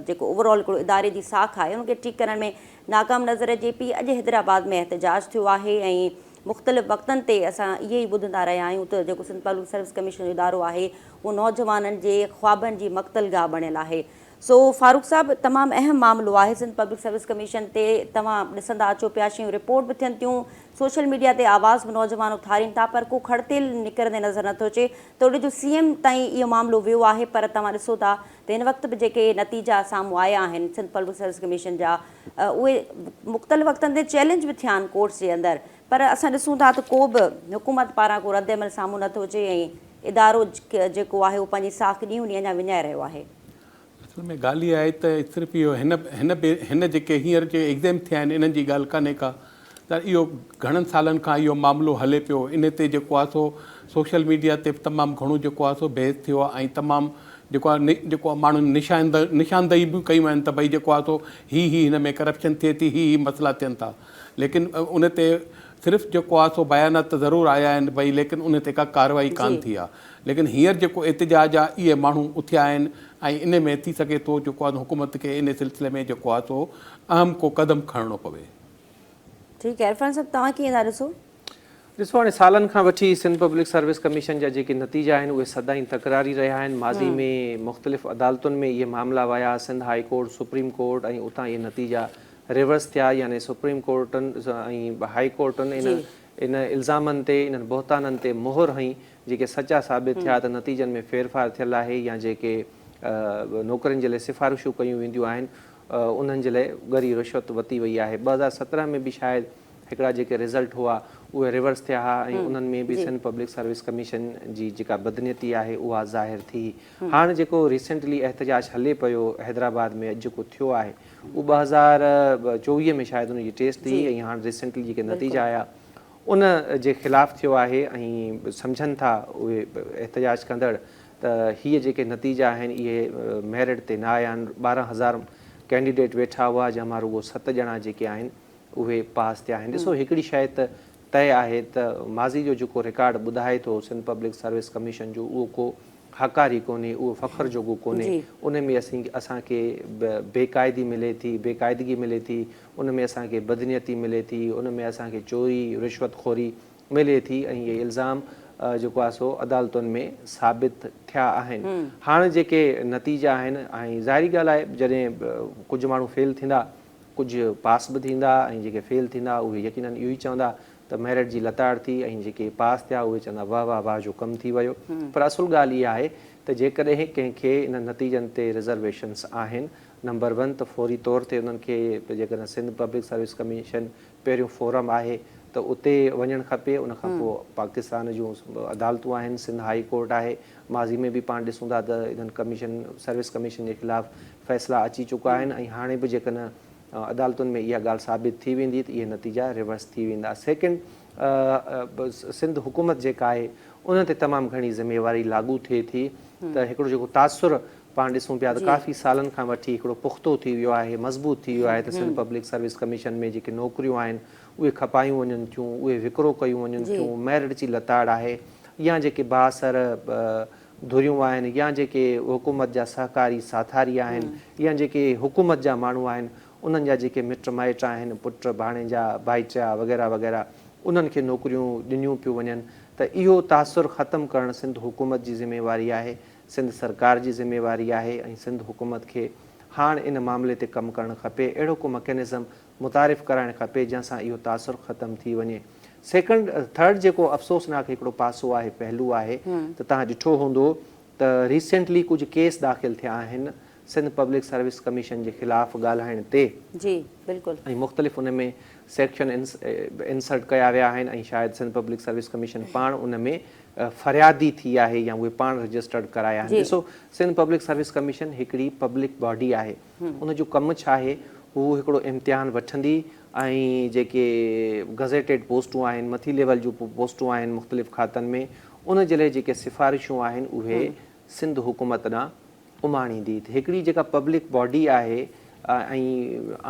جيڪو اوور آل هڪڙو اداري جي ساک آهي ان کي ٺيڪ ڪرڻ ۾ ناڪام نظر اچي پئي، اڄ حيدرآباد ۾ احتجاج ٿيو آهي ۽ مختلف وقتن تي اسان اهي ئي ٻڌندا رهيا آهيون ته جيڪو سنڌ پبلڪ سروس ڪميشن جو ادارو آهي اهو نوجوانن جي خوابن جي مقتل گاهه بڻيل آهي. سو فاروق صاحب تمام اهم معاملو آهي سنڌ پبلڪ سروس ڪميشن تي توهان ڏسندا اچو پيا شيون رپورٽ به ٿين ٿيون سوشل ميڊيا تي آواز به نوجوان اٿارين ٿا پر ڪو کڙ تيل نڪرندي نظر نٿو اچي، توڙي جو سي ايم تائين اهو معاملو ويو آهي پر توهان ڏسو ٿا ته هن وقت به جيڪي نتيجا سامهون آيا آهن سنڌ پبلڪ سروس ڪميشن جا اهي مختلف وقتن تي چئلينج به ٿيا آهن ڪورٽس جي اندر پر اسان ڏسون ٿا ته ڪو به حڪومت پاران ڪو رد عمل سامهون نٿو اچي ۽ ادارو جيڪو آهي اهو پنهنجي ساک ڏينهون ڏينهن اڃا وڃائي رهيو آهي. اصل ۾ ڳالهه اها آهي ته صرف اهو هن هن هن جيڪي هينئر جي ايگزيم ٿيا آهن انهن جي ڳالهه ڪانهي ڪا ته اهو گهڻن سالن کان اهو معاملو هلي پيو ان تي جيڪو آهي سو سوشل ميڊيا تي به تمام گهڻو جيڪو آهي سو بحث ٿيو آهي ۽ تمام جيڪو آهي جيڪو آهي ماڻهن نشاندهي نشاندهي به ڪيون آهن ته ڀئي جيڪو آهي سو هي هي هن ۾ ڪرپشن ٿئي ٿي هي هي مسئلا ٿين ٿا ليڪن ان تي صرف جيڪو آهي سو بيانات ته ضرور آيا آهن ڀئي ليڪن ان تي ڪا ڪارروائي ڪانه ٿي آهي ليڪن هينئر جيڪو احتجاج آ اهي ماڻهو اٿيا آهن ۽ ان ۾ ٿي سگهي ٿو جيڪو آ حڪومت کي ان سلسلي ۾ جيڪو آ سو اهم ڪو قدم کڻڻو پوي. ٺيڪ آهي عرفان صاحب توهان ڪيئن ٿا ڏسو؟ ڏسو هاڻي سالن کان وٺي سنڌ پبلڪ سروس ڪميشن جا جيڪي نتيجا آهن اهي سدائين تڪراري رهيا آهن ماضي ۾ مختلف عدالتن ۾ اهي معاملا ويا Sindh high court supreme court ۽ اتان اهي نتيجا ريورس ٿيا يعني سپريم ڪورٽن ۽ هائي ڪورٽن ان انهن الزامن تي، انهن بهتانن تي مهر هنئي، جيڪي سچا ثابت ٿيا ته نتيجن ۾ ڦيرڦار ٿيل آهي يا جيڪي نوڪرين جي لاء سفارشون ڪيون وينديون آهن، انهن جي لاء ڳري رشوت وتي وئي آهي. ٻه هزار سترهن ۾ به شايد هڪڙا جيڪي رزلٽ هئا، اهي ريورس ٿيا ها ۽ انهن ۾ به سنڌ پبلڪ سروس ڪميشن جي جيڪا بدنيتي آهي، اها ظاهر ٿي. هاڻ جيڪو ريسينٽلي احتجاج هلي پيو حيدرآباد ۾ اڄ جيڪو ٿيو آهي، اهو ٻه هزار چوويهه ۾ شايد ان جي ٽيسٽ ٿي ۽ هاڻ ريسينٽلي جيڪي نتيجا آيا ان جي خلاف ٿيو آهي ۽ سمجهن ٿا اهي احتجاج ڪندڙ ته هي جيڪي نتيجا آهن اهي ميرٽ تي نه آيا آهن ٻارهن هزار ڪينڊيڊيٽ ويٺا هئا جنهن مان رڳو ست ڄڻا جيڪي آهن اهي پاس ٿيا آهن ڏسو هڪڙي شايد طئي آهي ته ماضي جو جيڪو رڪارڊ ٻڌائي ٿو سنڌ پبلڪ سروس ڪميشن جو اهو ڪو هاڪار ئي ڪونهي، اهو فخر جوڳو ڪونهي، ان ۾ اسان کي بي قاعدي ملي ٿي، بي قاعدگي ملي ٿي، ان ۾ اسان کي بدنيتي ملي ٿي، ان ۾ اسان کي چوري، رشوت خوري ملي ٿي ۽ اهي الزام جيڪو آهي سو عدالتن ۾ ثابت ٿيا آهن. هاڻ جيڪي نتيجا آهن ۽ ظاهري ڳالهه آهي جڏهن ڪجهه ماڻهو فيل ٿيندا ڪجهه پاس به ٿيندا ۽ جيڪي فيل ٿيندا اهي يقينن اهو ئي چوندا ته ميرٽ جي لتاڙ ٿي ۽ جيڪي پاس ٿيا اهي چوندا واه واه واه جو ڪم ٿي ويو پر اصل ڳالهه اها آهي ته جيڪڏهن ڪنهن کي انهن نتيجن تي رزرويشنس آهن نمبر ون ته فوري طور تي انهن کي جيڪڏهن سنڌ پبلڪ سروس ڪميشن پهريون فورم آهي ته اتي وڃڻ کپي ان کان پوء پاڪستان جون عدالتون آهن سنڌ هائي ڪورٽ آهي ماضي ۾ به پاڻ ڏسون ٿا ته انهن ڪميشن سروس ڪميشن جي خلاف فيصلا اچي چڪا آهن ۽ هاڻي به جيڪڏهن عدالتن ۾ اها ڳالهه ثابت ٿي ويندي ته اهي نتيجا ريورس ٿي ويندا سيڪنڊ سنڌ حڪومت جيڪا آهي ان تي تمام گهڻي ذميواري لاڳو ٿئي ٿي ته هڪڙو جيڪو تاثر پاڻ ڏسون پيا ته ڪافي سالن کان وٺي هڪڙو پختو ٿي ويو آهي، مضبوط ٿي ويو آهي ته سنڌ پبلڪ سروس ڪميشن ۾ جيڪي نوڪريون آهن اهي کپايون وڃن ٿيون، اهي وڪرو ڪيون وڃن ٿيون، ميرٽ جي لتاڙ آهي يا جيڪي بااثر ڌريون آهن يا جيڪي حڪومت جا سهڪاري ساٿاري آهن يا جيڪي حڪومت جا ماڻهو آهن انهن جا جيڪي مٽ مائٽ آهن، پٽ، ڀاڻيجا، ڀائٽيا وغيره وغيره انهن کي نوڪريون ڏنيون پيون وڃن ته اهو تاثر ختم ڪرڻ سنڌ حڪومت جي ذميواري آهي سنڌ سرڪار جي ذميواري آهي ۽ سنڌ حڪومت کي هاڻ ان معاملي تي ڪم ڪرڻ کپي، اهڙو ڪو مڪينزم متعارف ڪرائڻ کپي جنهن سان اهو تاثر ختم ٿي وڃي. سيڪنڊ ٿرڊ جيڪو افسوسناڪ هڪڙو پاسو آهي پهلو آهي ته توهان ڏٺو هوندو ته ريسينٽلي ڪجهه ڪيس داخل ٿيا آهن سنڌ پبلڪ سروس ڪميشن جي خلاف ڳالهائڻ تي جي بلڪل. ۽ مختلف ان ۾ سيڪشن انسرٽ ڪيا ويا آهن ۽ شايد سنڌ پبلڪ سروس ڪميشن پاڻ ان ۾ فريادي ٿي آهي يا اهي پاڻ رجسٽرڊ ڪرايا آهن ڏسو سنڌ پبلڪ سروس ڪميشن هڪڙي پبلڪ باڊي آهي ان جو ڪم ڇا آهي هو هڪڙو امتحان وٺندي ۽ جيڪي گزيٽيڊ پوسٽون آهن مٿي ليول جون پوسٽون آهن مختلف کاتن ۾ ان جي لاء جيڪي سفارشون آهن اهي سنڌ حڪومت ڏانهن اماڻيندي ته هڪڙي جيڪا پبلڪ باڊي آهي ۽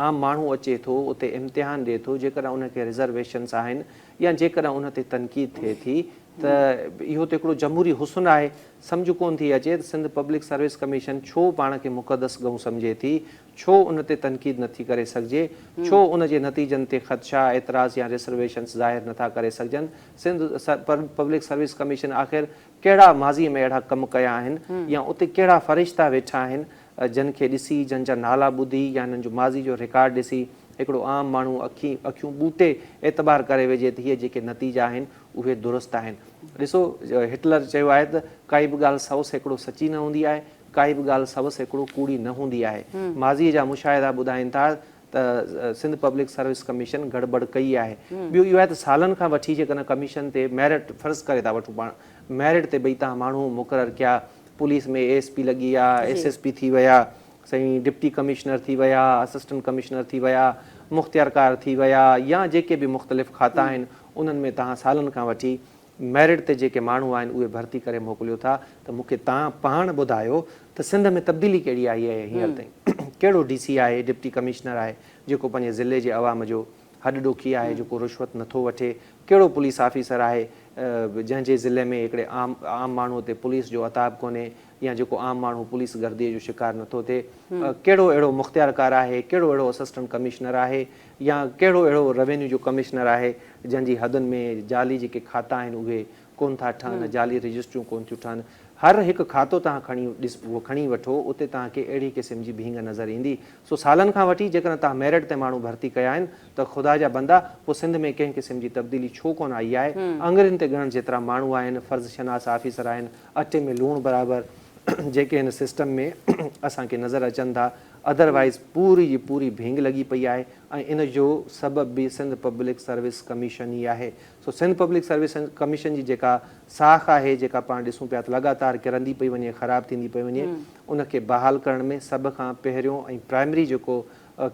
عام ماڻهو اچي ٿو اتي امتحان ڏي ٿو جيڪڏهن ان کي رزرويشنس آهن يا جيڪڏهن ان تي تنقيد ٿئي ٿي ته اهو ته هڪڙو جمهوري حسن آهي سمجهه ڪون ٿي اچي ته سنڌ پبلڪ سروس ڪميشن ڇو پاڻ کي مقدس ڳئون سمجهي ٿي ڇو ان تي تنقيد نٿي ڪري سگهجي ڇو ان جي نتيجن تي خدشا اعتراض يا رسرويشنس ظاهر نٿا ڪري سگهجن سنڌ پبلڪ سروس ڪميشن آخر ڪهڙا ماضيء ۾ اهڙا ڪم ڪيا آهن يا اتي ڪهڙا فرشتا ويٺا آهن جن کي ڏسي، جن جا نالا ٻڌي يا هنن جو ماضي جو رڪارڊ ڏسي هڪڙو عام ماڻهو اکين اکيون ٻوٽي اعتبار ڪري ويجهي ته هي جيڪي نتيجا آهن اهي درست آهن. ڏسو هٽلر چيو آهي ته ڪائي به ڳالهه سو سيڪڙو سچي نه هوندي آهي، ڪائي به ڳالهه سو سيڪڙو ڪوڙي نه هوندي آهي. ماضيء جا مشاهدا ٻڌائين ٿا ته سنڌ پبلڪ سروس ڪميشن گڙٻڙ ڪئي آهي. ٻيو اهو آهي ته سالن کان وٺي جيڪڏهن ڪميشن تي ميرٽ فرض ڪري ٿا وٺون پاڻ ميرٽ تي ڀئي تهان ماڻهو مقرر ڪيا پوليس ۾ اي ايس پي لڳي ويا ايس ايس پي ٿي ويا سائين ڊپٽي ڪمشنر ٿي ويا اسسٽنٽ ڪمشنر ٿي ويا مختيارڪار ٿي ويا يا جيڪي به مختلف کاتا آهن انهن ۾ تهان سالن کان وٺي ميرٽ تي جيڪي ماڻهو آهن اهي ڀرتي ڪري موڪليو ٿا ته مون کي تان پاڻ ٻڌايو ته سنڌ ۾ تبديلي ڪهڙي آئي آهي هينئر تائين ڪهڙو ڊي سي آهي ڊپٽي ڪمشنر آهي جيڪو پنهنجي ضلعي جي عوام جو هڏ ڏوکي آهي جيڪو رشوت نٿو وٺي ڪهڙو پوليس آفيسر آهي جنهن جي ضلعي ۾ هڪڙي عام عام ماڻهو تي پوليس جو عتاب ڪونهي يا جيڪو عام ماڻهو پوليس گرديء جو شڪار نٿو ٿئي، ڪهڙو اهڙو مختيارڪار آهي، ڪهڙو اهڙو اسسٽنٽ ڪمشنر آهي يا ڪهڙو اهڙو روينيو جو ڪمشنر آهي جنهن جي حدن ۾ جعلي جيڪي کاتا آهن اهي ڪونه ٿا ٺهن، جعلي رجسٽريون ڪونه ٿيون ٺهن. هر هڪ کاتو توهان کڻي کڻي وٺو اتي توهان کي اهڙي قسم جي ڀينگ نظر ايندي. سو سالن کان وٺي جيڪڏهن توهان ميرٽ تي ماڻهو ڀرتي ڪيا آهن ته خدا جا بندا پوء سنڌ ۾ ڪنهن قسم جي تبديلي ڇو ڪونه آئي آهي. آڱرين تي ڳڻڻ جيترا ماڻهو آهن، فرض شناس آفيسر آهن، اٽي ۾ لوڻ برابر جيڪي هن سسٽم ۾ اسان کي نظر اچن ٿا ادر وائيز پوري جي پوري ڀينگ لڳي پئي آهي ۽ ان جو سبب به سنڌ پبلڪ سروس ڪميشن ئي آهي سو سنڌ پبلڪ سروس ڪميشن جي جيڪا ساک آهي جيڪا پاڻ ڏسون پيا ته لڳاتار ڪرندي پئي وڃي خراب ٿيندي پئي وڃي ان کي بحال ڪرڻ ۾ سڀ کان پهريون ۽ پرائمري جيڪو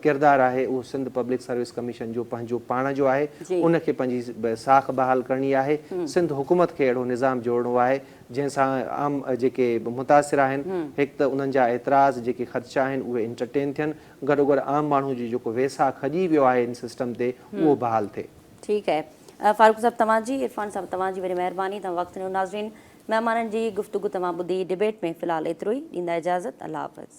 ڪردار آهي اهو سنڌ پبلڪ سروس ڪميشن جو پنهنجو پاڻ جو آهي ان کي پنهنجي ساک بحال ڪرڻي آهي سنڌ حڪومت کي اهڙو نظام جوڙڻو آهي جنهن سان عام جيڪي متاثر آهن هڪ ته انهن جا اعتراض جيڪي خدشا آهن اهي انٽرٽين ٿين گڏوگڏ عام ماڻهو جو جيڪو ويساهه کڄي ويو آهي ان سسٽم تي اهو بحال ٿئي. ٺيڪ آهي فاروق صاحب توهان جي عرفان صاحب توهان جي وڏي مهرباني توهان وقت ڏنو ناظرين مهمانن جي گفتگو توهان ٻڌي ڊبيٽ ۾ في الحال ايترو ئي ڏيندا اجازت الله حافظ.